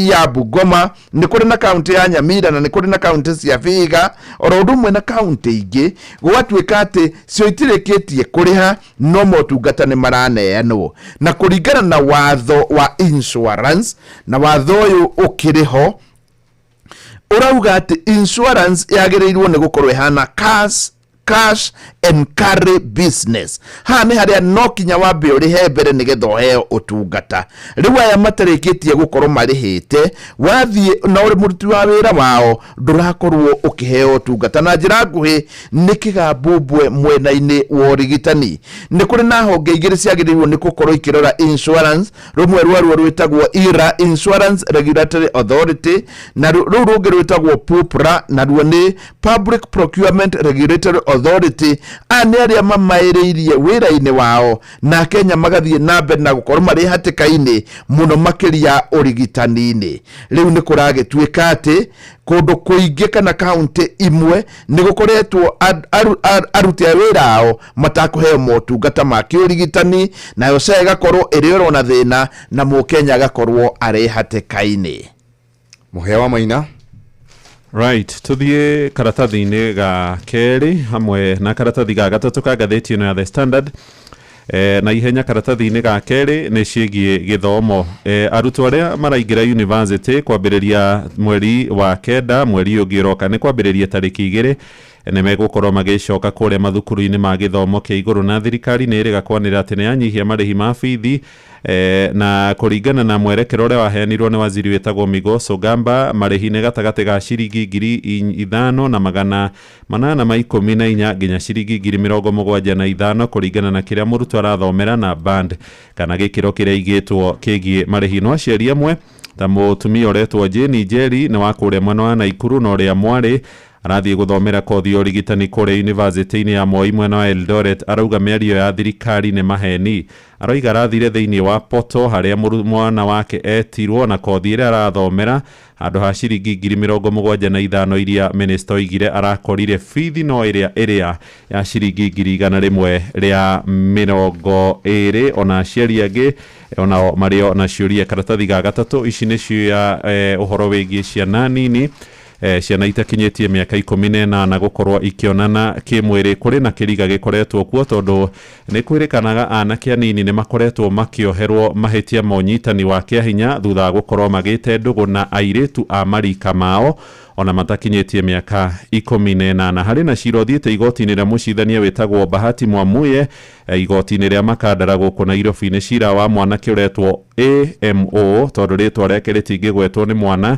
ya Bungoma nĩ kũrĩ na kaunti ya Nyamira na nĩ kũrĩ na kaunti cia Vihiga oro ũndũ ũmwe na kaunti ingĩ gũgatuĩka atĩ cio itirĩkĩtie kũrĩha no motungata nĩ maraneanwo na kũringana na watho wa insurance na watho ũyũ ũkĩrĩ ho ũrauga atĩ insurance yagĩrĩirwo nĩ gũkorwo ĩhana cash cash and carry business haha nĩ harĩa no kinya wambe ũrĩhe mbere nĩgetha ũheo ũtungata rĩu aya matarĩkĩtie gũkorwo marĩhĩte wathiĩ na ũrĩ mũruti wa wĩra wao ndũrakorwo ũkĩheo ũtungata na njĩra nguhĩ nĩ kĩgambumbwe mwena-inĩ wa ũrigitani nĩ kũrĩ na honge igĩrĩ ciagĩrĩirwo nĩ gũkorwo ikĩrora insurance rũmwe rwaruo rwĩtagwo ira insurance regulatory authority na rũ- rũu rũngĩ rwĩtagwo pupra naruo nĩ public procurement regulatory authority aya nĩ arĩa mamaĩrĩirie wĩra-inĩ wao na kenya magathiĩ na mbere na gũkorwo marĩ hatĩka-inĩ mũno makĩria ũrigitani-inĩ rĩu nĩ kũragĩtuĩka atĩ kũndũ kũingĩ kana kaunti imwe nĩ gũkoretwo ar- aru- ar- aruti a wĩra ao matakũheo motungata ma kĩũrigitani, nayo SHA ĩgakorwo ĩrĩ oro na thĩna na mũkenya agakorwo arĩ hatĩka-inĩ. Mũhĩa wa Maina. Right, tuthiĩ karatathi-inĩ ga kerĩ hamwe na karatathi ga gatatũ ka ngathĩti ĩno ya The Standard. E, na ihenya karatathi-inĩ ga kerĩ nĩ ciĩgiĩ gĩthomo e, arutwo arĩa maraingĩra yunivasĩtĩ kwambĩrĩria mweri wa kenda mweri ũngĩ ũroka nĩ kwambĩrĩria tarĩki igĩrĩ Nĩ megũkorwo magĩcoka kũrĩa mathukuru-inĩ ma gĩthomo kĩa igũrũ na thirikari nĩ ĩrĩga kwanĩrĩra atĩ nĩ yanyihia marĩhi ma bithi eh, na kũringana na mwerekera ũrĩa waheanirwo nĩ waziri wĩtagwo Migos Ogamba marĩhi nĩ gatagatĩ ga ciringi ngiri i- ithano na magana manana ma ikũmi na inya nginya ciringi ngiri mĩrongo mũgwanja na ithano kũringana na kĩrĩa mũrutwo arathomera na band kana gĩkĩro kĩrĩa igĩtwo kĩgiĩ marĩhi no aciari amwe ta mũtumia ũretwo Jane Njeri nĩ wa kũrĩa mwena wa Naikuru na ũrĩa mwarĩ Arathiĩ gũthomera kothi ya ũrigitani kũrĩa yunivasĩtĩ-inĩ ya Moi mwena wa Eldoret, arauga mĩario ya thirikari nĩ maheni. Aroiga arathire thĩinĩ wa portal harĩa mwana wake etirwo na kothi ĩrĩa arathomera handũ ha ciringi ngiri mĩrongo mũgwanja na ithano iria mĩnĩsta oigire arakorire, bithi no ĩrĩa ĩrĩa ya ciringi ngiri igana rĩmwe rĩa mĩrongo ĩrĩ. Ona aciari angĩ onao marĩ o na ciũria. Karatathi ga gatatũ, ici nĩ cia ũhoro wĩgiĩ ciana nini. E, ciana itakinyĩtie mĩaka ikũmi na ĩnana gũkorwo ikĩonana kĩmwĩrĩ kũrĩ na kĩriga gĩkoretwo kuo tondũ nĩ kwĩrĩkanaga anake anini nĩ makoretwo makĩoherwo mahĩtia ma ũnyitani wa kĩahinya thutha wa gũkorwo magĩte ndũgũ na airĩtu a marika mao ona matakinyĩtie mĩaka ikũmi na ĩnana. Harĩ na cira ũthiĩte igoti-inĩ rĩa mũcirithania wĩtagwo Bahati Mwamuye e, igoti-inĩ rĩa Makandara gũkũ Nairobi. Nĩ cira wa mwanake ũretwo AMO tondũ rĩtwa rĩake rĩtingĩgwetwo nĩ mwana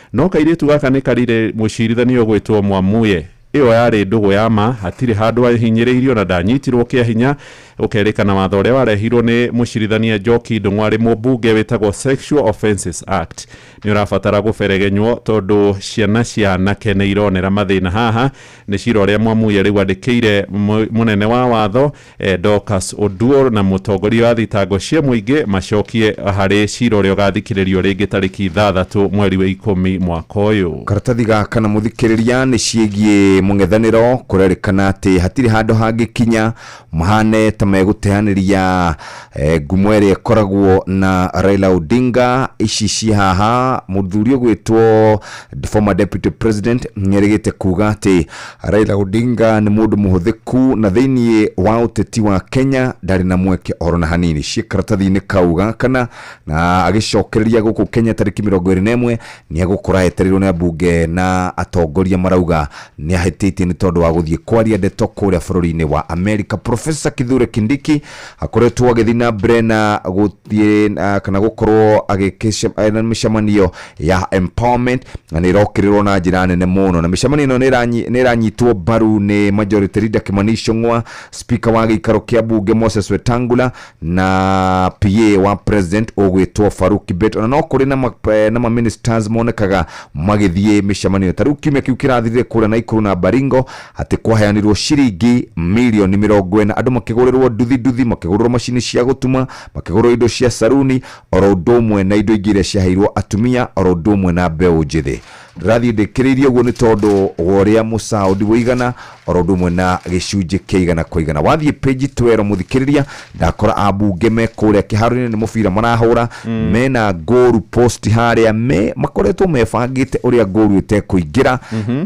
No kairĩtu gaka nĩkarire mũcirithania ũgwĩtwo Mwamuye. Ĩyo yarĩ ndũgũ ya ma, hatirĩ handũ ahinyĩrĩirio na ndanyitirwo kĩa hinya. Gũkerĩkana watho ũrĩa warehirwo nĩ mũcirithania Njoki Ndung'u arĩ mũmbunge wĩtagwo Sexual Offences Act nĩũrabatara gũberegenywo tondũ ciana cia anake nĩironera mathĩna haha. Nĩ cira ũrĩa Mwamuye rĩu andĩkĩire mũnene wa watho eh, Dorcas Oduor na mũtongoria wa thitango cia mũingĩ macokie harĩ cira ũrĩa ũgathikĩrĩrio rĩngĩ tarĩki ithathatũ mweri wa ikũmi mwaka ũyũ karatathi gaka na mũthikĩrĩria nĩ ciĩgiĩ mũng'ethanĩro kũrerĩkana atĩ hatirĩ handũ hangĩkinya mahane ta megũteanĩria eh, ngumo ĩrĩa ĩkoragwo na Raila Odinga ici ciĩ haha mũthuri ũgwĩtwo former deputy president nĩerĩgĩte kuga atĩ Raila Odinga nĩ mũndũ mũhũthĩku na thĩinĩ wa ũteti wa Kenya ndarĩ na mweke oro na hanini ciĩ karatathi-inĩ kau gakana na agĩcokereria gũkũ Kenya tarĩki mĩrongo ĩrĩ na ĩmwe nĩ agũkora etereirwo nĩ ambunge na atongoria marauga nĩ ahĩtĩtie nĩ tondũ wa gũthiĩ kwaria ndeto kũrĩa bũrũri-inĩ wa Amerika. Professor Kithure Kindiki akoretwo agĩthiĩ na mbere na gũ thiĩ ah, kana gũkorwo agĩkĩcem- na mĩcemanio ya empowerment na nĩ ĩrokĩrĩrwo na njĩra nene mũno na mĩcemanio ĩno nĩ ĩranyi- nĩ ĩranyitwo mbaru nĩ majority leader Kimani Ichung'wa speaker wa gĩikaro kĩa mbunge Moses Wetangula na PA wa president ũgwĩtwo Farouk Kibet ona no kũrĩ na ma- eh, na ma ministers monekaga magĩthiĩ mĩcemanio ta rĩu kiumia kĩu kĩrathirire kũrĩa na ikuru na Baringo atĩ kwaheanirwo ciringi mirioni mĩrongo ĩna andũ makĩgũrĩrwo nduthi nduthi, makĩgũrĩrwo macini cia gũtuma, makĩgũrĩrwo indo cia saruni, oro ũndũ ũmwe na indo ingĩ iria ciaheirwo atumia, oro ũndũ ũmwe na mbeũ njĩthĩ. Ndĩrathiĩ ndĩkĩrĩirie ũguo nĩ tondũ wa ũrĩa mũcaũndi ũigana, oro ũndũ ũmwe na gĩcunjĩ kĩa igana kwa igana. Wathiĩ page 12 mũthikĩrĩria, ndakora ambunge me kũrĩa kĩharo-inĩ nĩ mũbira marahũra mena goru post harĩa me makoretwo mebangĩte ũrĩa goru ĩtekũingĩra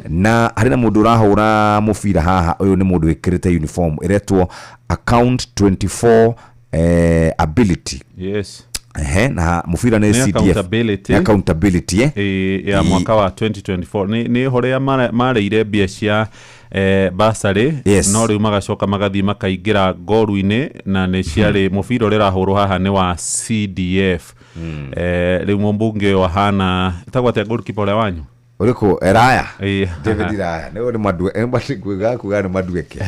na harĩ na mũndũ ũrahũra mũbira haha ũyũ nĩ mũndũ wĩkĩrĩte uniform ĩretwo account 24 eh, ability yes Ehe, na mũbira nĩ Nĩ CDF accountability. Nĩ accountability eh? Ĩ, ya Ĩ- mwaka wa 2024 Nĩ- nĩ hore marĩire mbia cia eh, basarĩ Yes. no rĩu magacoka magathiĩ makaingĩra ngoru-inĩ na nĩ ciarĩ mũbira ũrĩa ũrahũrwo haha nĩ wa cdf eh, rĩu mũmbunge ũyũ ahana ĩtagwo atĩa goalkeeper ũrĩa wanyu ũrĩkũ eraya Eh, david raya nĩ nĩmatuĩga kuga nĩ madueke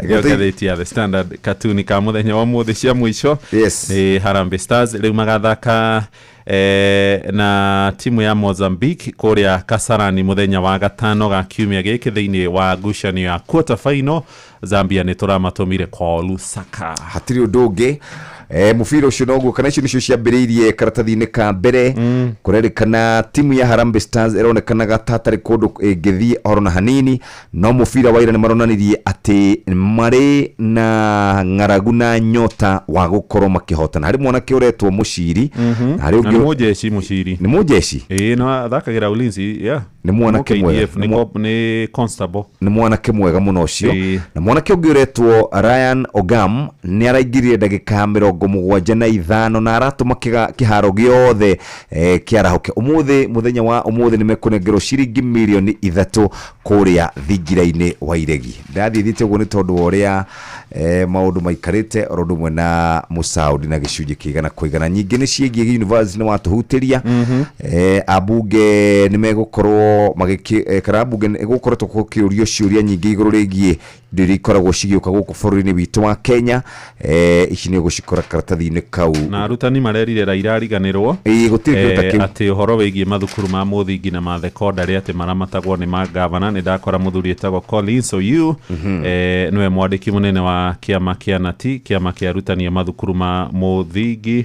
Gĩo ngathĩti ya the standard katuni ka mũthenya wa mũthĩ cia mũico Yes. nĩ harambe stars rĩu magathaka e, na timu ya mozambique kũrĩa kasarani mũthenya wa gatano ga kiumia gĩkĩ thĩinĩ wa ngucanio ya quarter final zambia nĩ tũramatũmire kwa lusaka hatirĩ ũndũ ũngĩ E, mũbira ũcio noguo kana icio nĩcio ciambĩrĩirie karatathi-inĩ ka mbere mm. kũrerĩkana timu ya Harambee Stars ĩronekanaga ta hatarĩ kũndũ ĩngĩthiĩ horo na hanini no mũbira wa ira nĩ maronanirie atĩ marĩ na ng'aragu na nyota wa gũkorwo makĩhotana harĩ mwanake ũretwo mũciri na harĩ na nĩ ũngĩ mũjeci mũciri nĩ mũjeci ĩĩ na thakagĩra ulinzi yeah. Nĩ mwanake Nĩ mwega. KDF, Nĩ nĩ mwa- cop- nĩ constable nĩ mwanake mwega mũno ũcio Ĩĩ. na mwanake ũngĩ ũretwo ryan ogam nĩ araingirire ndagĩka ya mĩrongo mũgwanja na ithano na aratũma kĩga- kĩharo gĩothe eh, kĩarahũke ũmũthĩ mũthenya wa ũmũthĩ nĩ mekũnengerwo ciringi mirioni ithatũ kũrĩa thingira-inĩ wa iregi ndathiĩ thiĩte ũguo nĩ tondũ wa ũrĩa eh, maũndũ maikarĩte oro ũndũ ũmwe na mũcaũri na gĩcunjĩ kĩigana kũigana nyingĩ nĩ ciĩgiĩ gĩunivarsity nĩ watũhutĩria eh, ambunge nĩ megũkorwo magĩkĩ eh, kana ambunge nĩ gũkoretwo gũkĩũrio ciũria nyingĩ igũrũ rĩgiĩ indo iria ikoragwo cigĩũka gũkũ bũrũri-inĩ witũ wa kenya eh, ici nĩ ũgũcikora karatathi-inĩ kau na arutani marerire raira ariganĩrwo Ĩĩ, gũtirĩ kĩndũ ta eh, kĩu. atĩ ũhoro wĩgiĩ mathukuru ma mũthingi na ma thekondarĩ atĩ maramatagwo nĩ mangavana nĩ ndakora mũthuri wĩtagwo Collins Oyu eh, nĩwe mwandĩki mũnene wa kĩama kĩa nati kĩama kĩa arutani a mathukuru ma mũthingi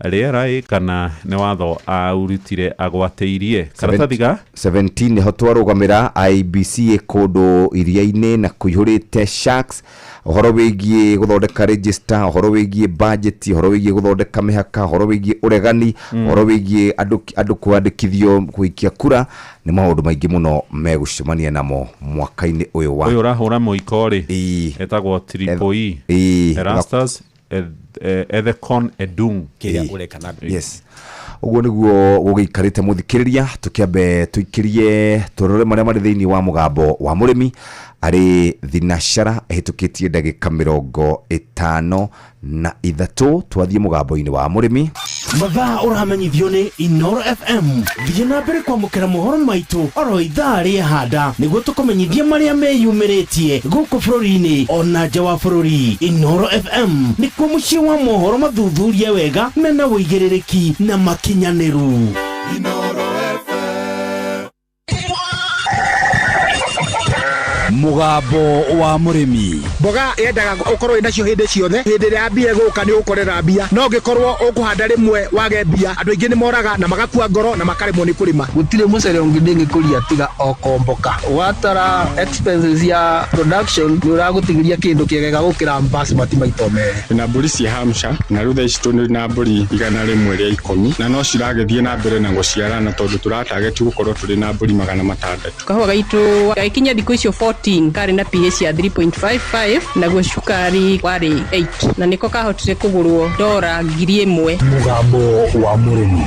Rĩera ĩ kana nĩ watho aurutire agwatĩirie? Karatathi ga. 17 nĩho twarũgamĩra IEBC ĩ kũndũ iria-inĩ na kũihũrĩte sharks ũhoro wĩgiĩ gũthondeka register ũhoro wĩgiĩ budget ũhoro wĩgiĩ gũthondeka mĩhaka ũhoro wĩgiĩ ũregani ũhoro wĩgiĩ andũ andũ kwandĩkithio gũikia kura nĩ maũndũ maingĩ mũno megũcemania namo mwaka-inĩ ũyũ wa ũyũ ũrahũra mũiko rĩ Ĩĩ. etagwo triple E Ĩĩ. Erastus ethekon edung kä rä a å reka na yes ũguo nĩguo gũgĩikarĩte mũthikĩrĩria tũkĩambe tũikĩrie tũrore marĩa marĩ thĩinĩ wa mũgambo wa mũrĩmi arĩ thinashara ĩhĩtũkĩtie ndagĩka mĩrongo ĩtano na ithatũ twathiĩ mũgambo-inĩ wa mũrĩmi mathaa ũramenyithio nĩ inoro fm thiĩ na mbere kwamũkĩra mohoro maitũ oro ithaa rĩahanda nĩguo tũkũmenyithie marĩa meyumĩrĩtie gũkũ bũrũri-inĩ ona nja wa bũrũri inoro fm nĩkuo mũciĩ wa mohoro mathuthurie wega mena wũigĩrĩrĩki na makinyanĩru Inoro mugambo wa murimi mboga yendaga ukorwo inacio hindi ciothe hindi ria mbia iguka ni ukorera mbia no ngikorwo ukuhanda rimwe wage mbia andu aingi ni moraga na magakua ngoro na makaremwo ni kurima gutire mucere ungi ndingikuria tiga okomboka watara expenses ya production ni uragutigiria kindu kiegega gukira basmati maito meri na mburi cia hamsha na rutha ici tå na mburi igana rä mwe rä a ikå mi na no ciragä thiä na mbere na gå ciarana tondå tå Target gũkorwo tũrĩ na mbũri magana matandatũ. Kahũa gaitũ gagĩkinya thikũ icio 14 karĩ na PH ya 3.55 naguo cukari warĩ 8 na nĩko kahotire kũgũrwo ndora ngiri ĩmwe. Mũgambo wa mũrĩmi.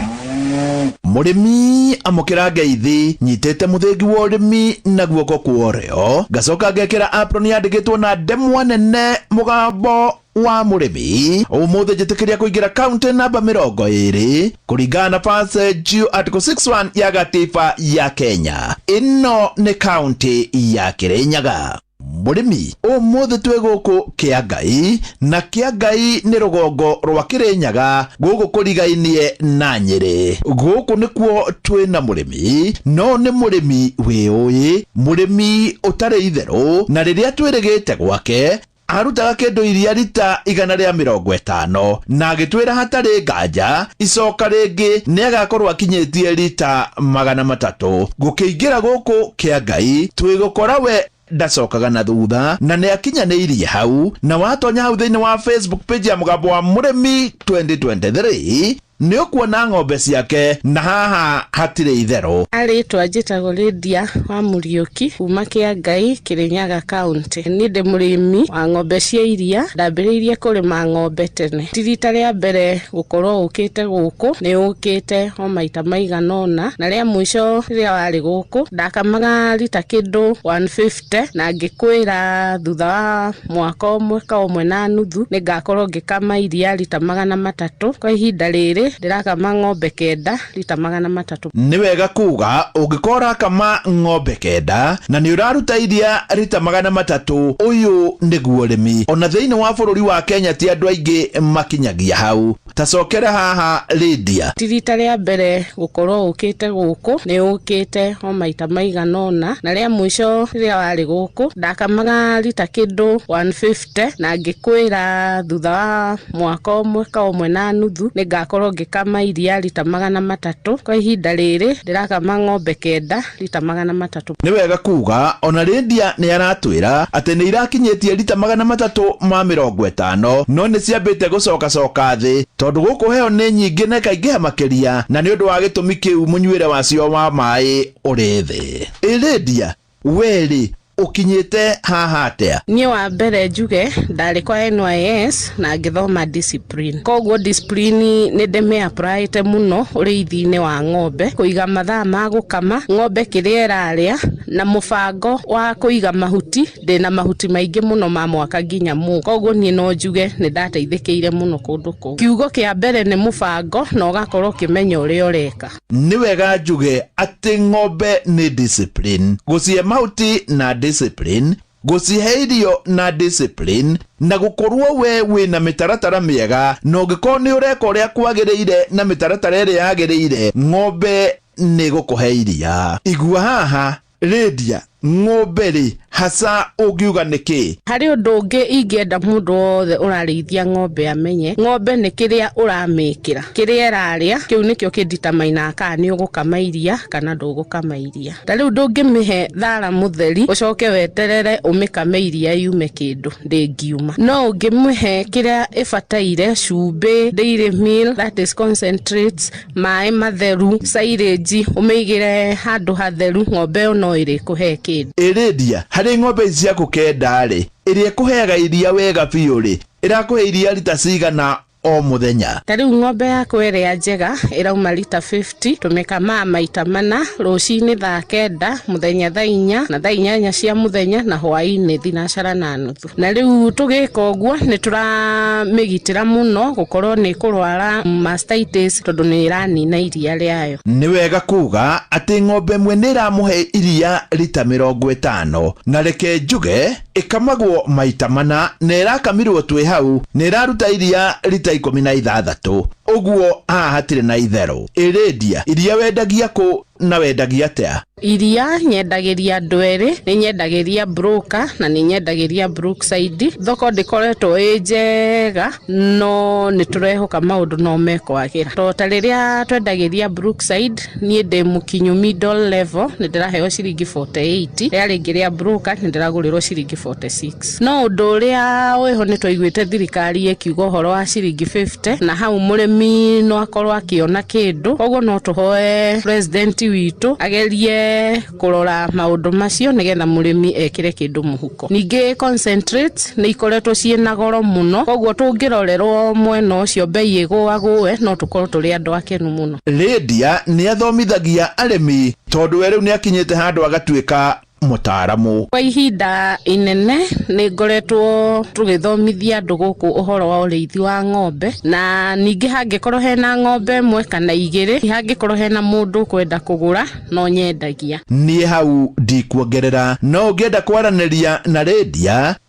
Mũrĩmi amũkĩra ngeithi, nyitĩte mũthĩngi wa ũrĩmi na guoko kwa ũrĩo, ngacoka ngekĩra apron yandĩkĩtwo na ndemwa nene, mũgambo wa mũrĩmi ũmũthĩ njĩtĩkĩria kũingĩra kaunti namba mĩrongo ĩrĩ kũringana na base juu article 61 ya gatiba ya Kenya. Ĩno nĩ kaunti ya Kĩrĩnyaga. Mũrĩmi ũmũthĩ twĩ gũkũ Kĩangai na Kĩangai nĩ rũgongo rwa Kĩrĩnyaga gũkũ kũrigainie na Nyĩrĩ. Gũkũ nĩkuo twĩ na mũrĩmi no nĩ mũrĩmi wĩũĩ, mũrĩmi ũtarĩ itherũ na rĩrĩa twĩrĩgĩte gwake Aarutaga kĩndũ iria rita igana rĩa mĩrongo ĩtano, na agĩtwĩra hatarĩ nganja icoka rĩngĩ nĩ agakorwo akinyĩtie rita magana matatũ. Gũkĩingĩra gũkũ kĩa Ngai twĩgũkora we ndacokaga na thutha na nĩ akinyanĩirie hau, na watonya hau thĩinĩ wa Facebook page ya Mũgambo wa Mũrĩmi 2023, Nĩũkuona ng'ombe ciake, na haha hatirĩ itherũ. A Rĩĩtwa njĩtagwo Lydia wa Mũriũki kuuma Kĩangai, Kĩrĩnyaga County. Niĩ ndĩ mũrĩmi wa ng'ombe cia iria. Ndambĩrĩirie kũrĩma ng'ombe tene. Ti riita rĩa mbere gũkorwo ũkĩte gũkũ, nĩ ũkĩte o maita maigana ũna. Na rĩa mũico rĩrĩa warĩ gũkũ, ndakamaga rita kĩndũ 150. te na ngĩkwĩra thutha wa mwaka ũmwe ka ũmwe na nuthu nĩ ngakorwo ngĩkama iria rita magana matatũ kwa ihinda rĩrĩ ndĩrakama ng'ombe kenda rita magana matatũ Nĩ wega kuuga ũngĩkorwo ũrakama ng'ombe kenda na nĩ ũraruta iria rita magana matatũ, ũyũ nĩguo ũrĩmi. O na thĩinĩ wa bũrũri wa Kenya ti andũ aingĩ makinyagia hau. tacokera haha Lydia. Ti rita rĩa mbere gũkorwo ũkĩte gũkũ, nĩ ũkĩte o maita maigana ũna, na rĩa mũico rĩrĩa warĩ gũkũ ndakamaga rita kĩndũ 150 na ngĩkwĩra thutha wa mwaka ũmwe ka ũmwe na nuthu nĩ ngakorwo ngĩkama iria rita magana matatũ. Kwa ihinda rĩrĩ ndĩrakama ng'ombe kenda rita magana matatũ. Nĩ wega kuuga ona Lydia nĩ aratwĩra atĩ nĩ irakinyĩtie rita magana matatũ ma mĩrongo ĩtano no nĩ ciambĩte gũcokacoka thĩ tondũ gũkũ heho nĩ nyingĩ na ikaingĩha makĩria na nĩ ũndũ wa gĩtũmi kĩu mũnyuĩre wacio wa maĩ ũrĩ thĩ. Ĩ Lydia, wee rĩ, ũkinyĩte haha atĩa niĩ wa mbere njuge ndarĩ kwa NYS na ngĩthoma discipline koguo discipline nĩ ndĩmĩapraĩte mũno ũrĩithi-inĩ wa ng'ombe kũiga mathaa ma gũkama ng'ombe kĩrĩa ĩrarĩa na mũbango wa kũiga mahuti ndĩna mahuti maingĩ mũno ma mwaka nginya mũ koguo niĩ no njuge nĩ ndateithĩkĩire mũno kũndũ kũu kiugo kĩa mbere nĩ mũbango na ũgakorwo ũkĩmenya ũrĩa ũreka nĩ wega njuge atĩ ng'ombe nĩ discipline gũcihe mahuti na discipline gũcihe irio na discipline na gũkorwo we wĩna mĩtaratara mĩega na ũngĩkorwo nĩ ũreka ũrĩa kwagĩrĩire na mĩtaratara ĩrĩa yagĩrĩire ng'ombe nĩ gũkũhe iria igua haha Rĩndia, Ng'ombe-rĩ, haca ũngiuga nĩkĩ? Harĩ ũndũ ũngĩ ingĩenda mũndũ wothe ũrarĩithia ng'ombe amenye, ng'ombe nĩ kĩrĩa ũramĩkĩra. Kĩrĩa ĩrarĩa, kĩu nĩkĩo kĩ determiner kana nĩ ũgũkama iria kana ndũgũkama iria. Ta rĩu ndũngĩmĩhe thara mũtheri ũcoke weterere ũmĩkame iria yume kĩndũ, ndĩngiuma. No ũngĩmĩhe kĩrĩa ĩbataire, cumbĩ, dairy meal, that is concentrates. maĩ matheru cairĩnji ũmĩigĩre handũ hatheru ng'ombe ĩyo no ĩrĩkũhe kĩndũ Ĩrĩndia, harĩ ng'ombe ici ciaku kenda-rĩ, ĩrĩa ĩkũheaga iria wega biũ-rĩ, ĩrakũhe iria rita cigana o mũthenya? ta rĩu ng'ombe yakwa ĩrĩa njega ĩrauma rita 50 tũmĩkamaga maita mana rũcinĩ thaa kenda mũthenya thaa inya na thaa inyanya cia mũthenya na hwainĩ thinacara na nuthu na rĩu tũgĩka ũguo nĩ tũramĩgitĩra mũno gũkorwo nĩ kũrwara mastitis tondũ nĩ ĩranina iria rĩayo Nĩ wega kuuga atĩ ng'ombe ĩmwe nĩ ĩramũhe iria rita mĩrongo ĩtano. Na reke njuge ĩkamagwo maita mana na ĩrakamirwo twĩ hau nĩ ĩraruta iria rita ikũmi na ithathatũ. Ũguo haha hatirĩ na itherũ. Ĩ Lydia, iria wendagia kũ na wendagia atĩa? Iria nyendagĩria Ndweri, nĩ nyendagĩria Broker na nĩ nyendagĩria Brookside. Thoko ndĩkoretwo ĩ njega no nĩ tũrehoka maũndũ no mekwagĩra. To ta rĩrĩa twendagĩria Brookside, niĩ ndĩ mũkinyu middle level, nĩ ndĩraheo ciringi forty eight, rĩrĩa rĩngĩ rĩa Broker nĩ ndĩragũrĩrwo ciringi forty six. No ũndũ ũrĩa wĩho nĩ twaiguĩte thirikari ĩkiuga ũhoro wa ciringi 50 na hau mũrĩmi no akorwo akĩona kĩndũ, koguo no tũhoe president witũ agerie kũrora maũndũ macio nĩgetha mũrĩmi ekĩre kĩndũ mũhuko. Ningĩ concentrates nĩ ikoretwo ciĩ na goro mũno, koguo tũngĩrorerwo mwena ũcio mbei ĩgũagũe no tũkorwo tũrĩ andũ akenu mũno. Lydia nĩ athomithagia arĩmi tondũ we rĩu nĩ akinyĩte handũ agatuĩka mũtaaramu. Kwa ihinda inene nĩ ngoretwo tũgĩthomithia andũ gũkũ ũhoro wa ũrĩithi wa ng'ombe na ningĩ hangĩkorwo hena ng'ombe ĩmwe kana igĩrĩ hangĩkorwo hena mũndũ ũkwenda kũgũra no nyendagia. Niĩ hau ndikuongerera no ũngĩenda kwaranĩria na Lydia,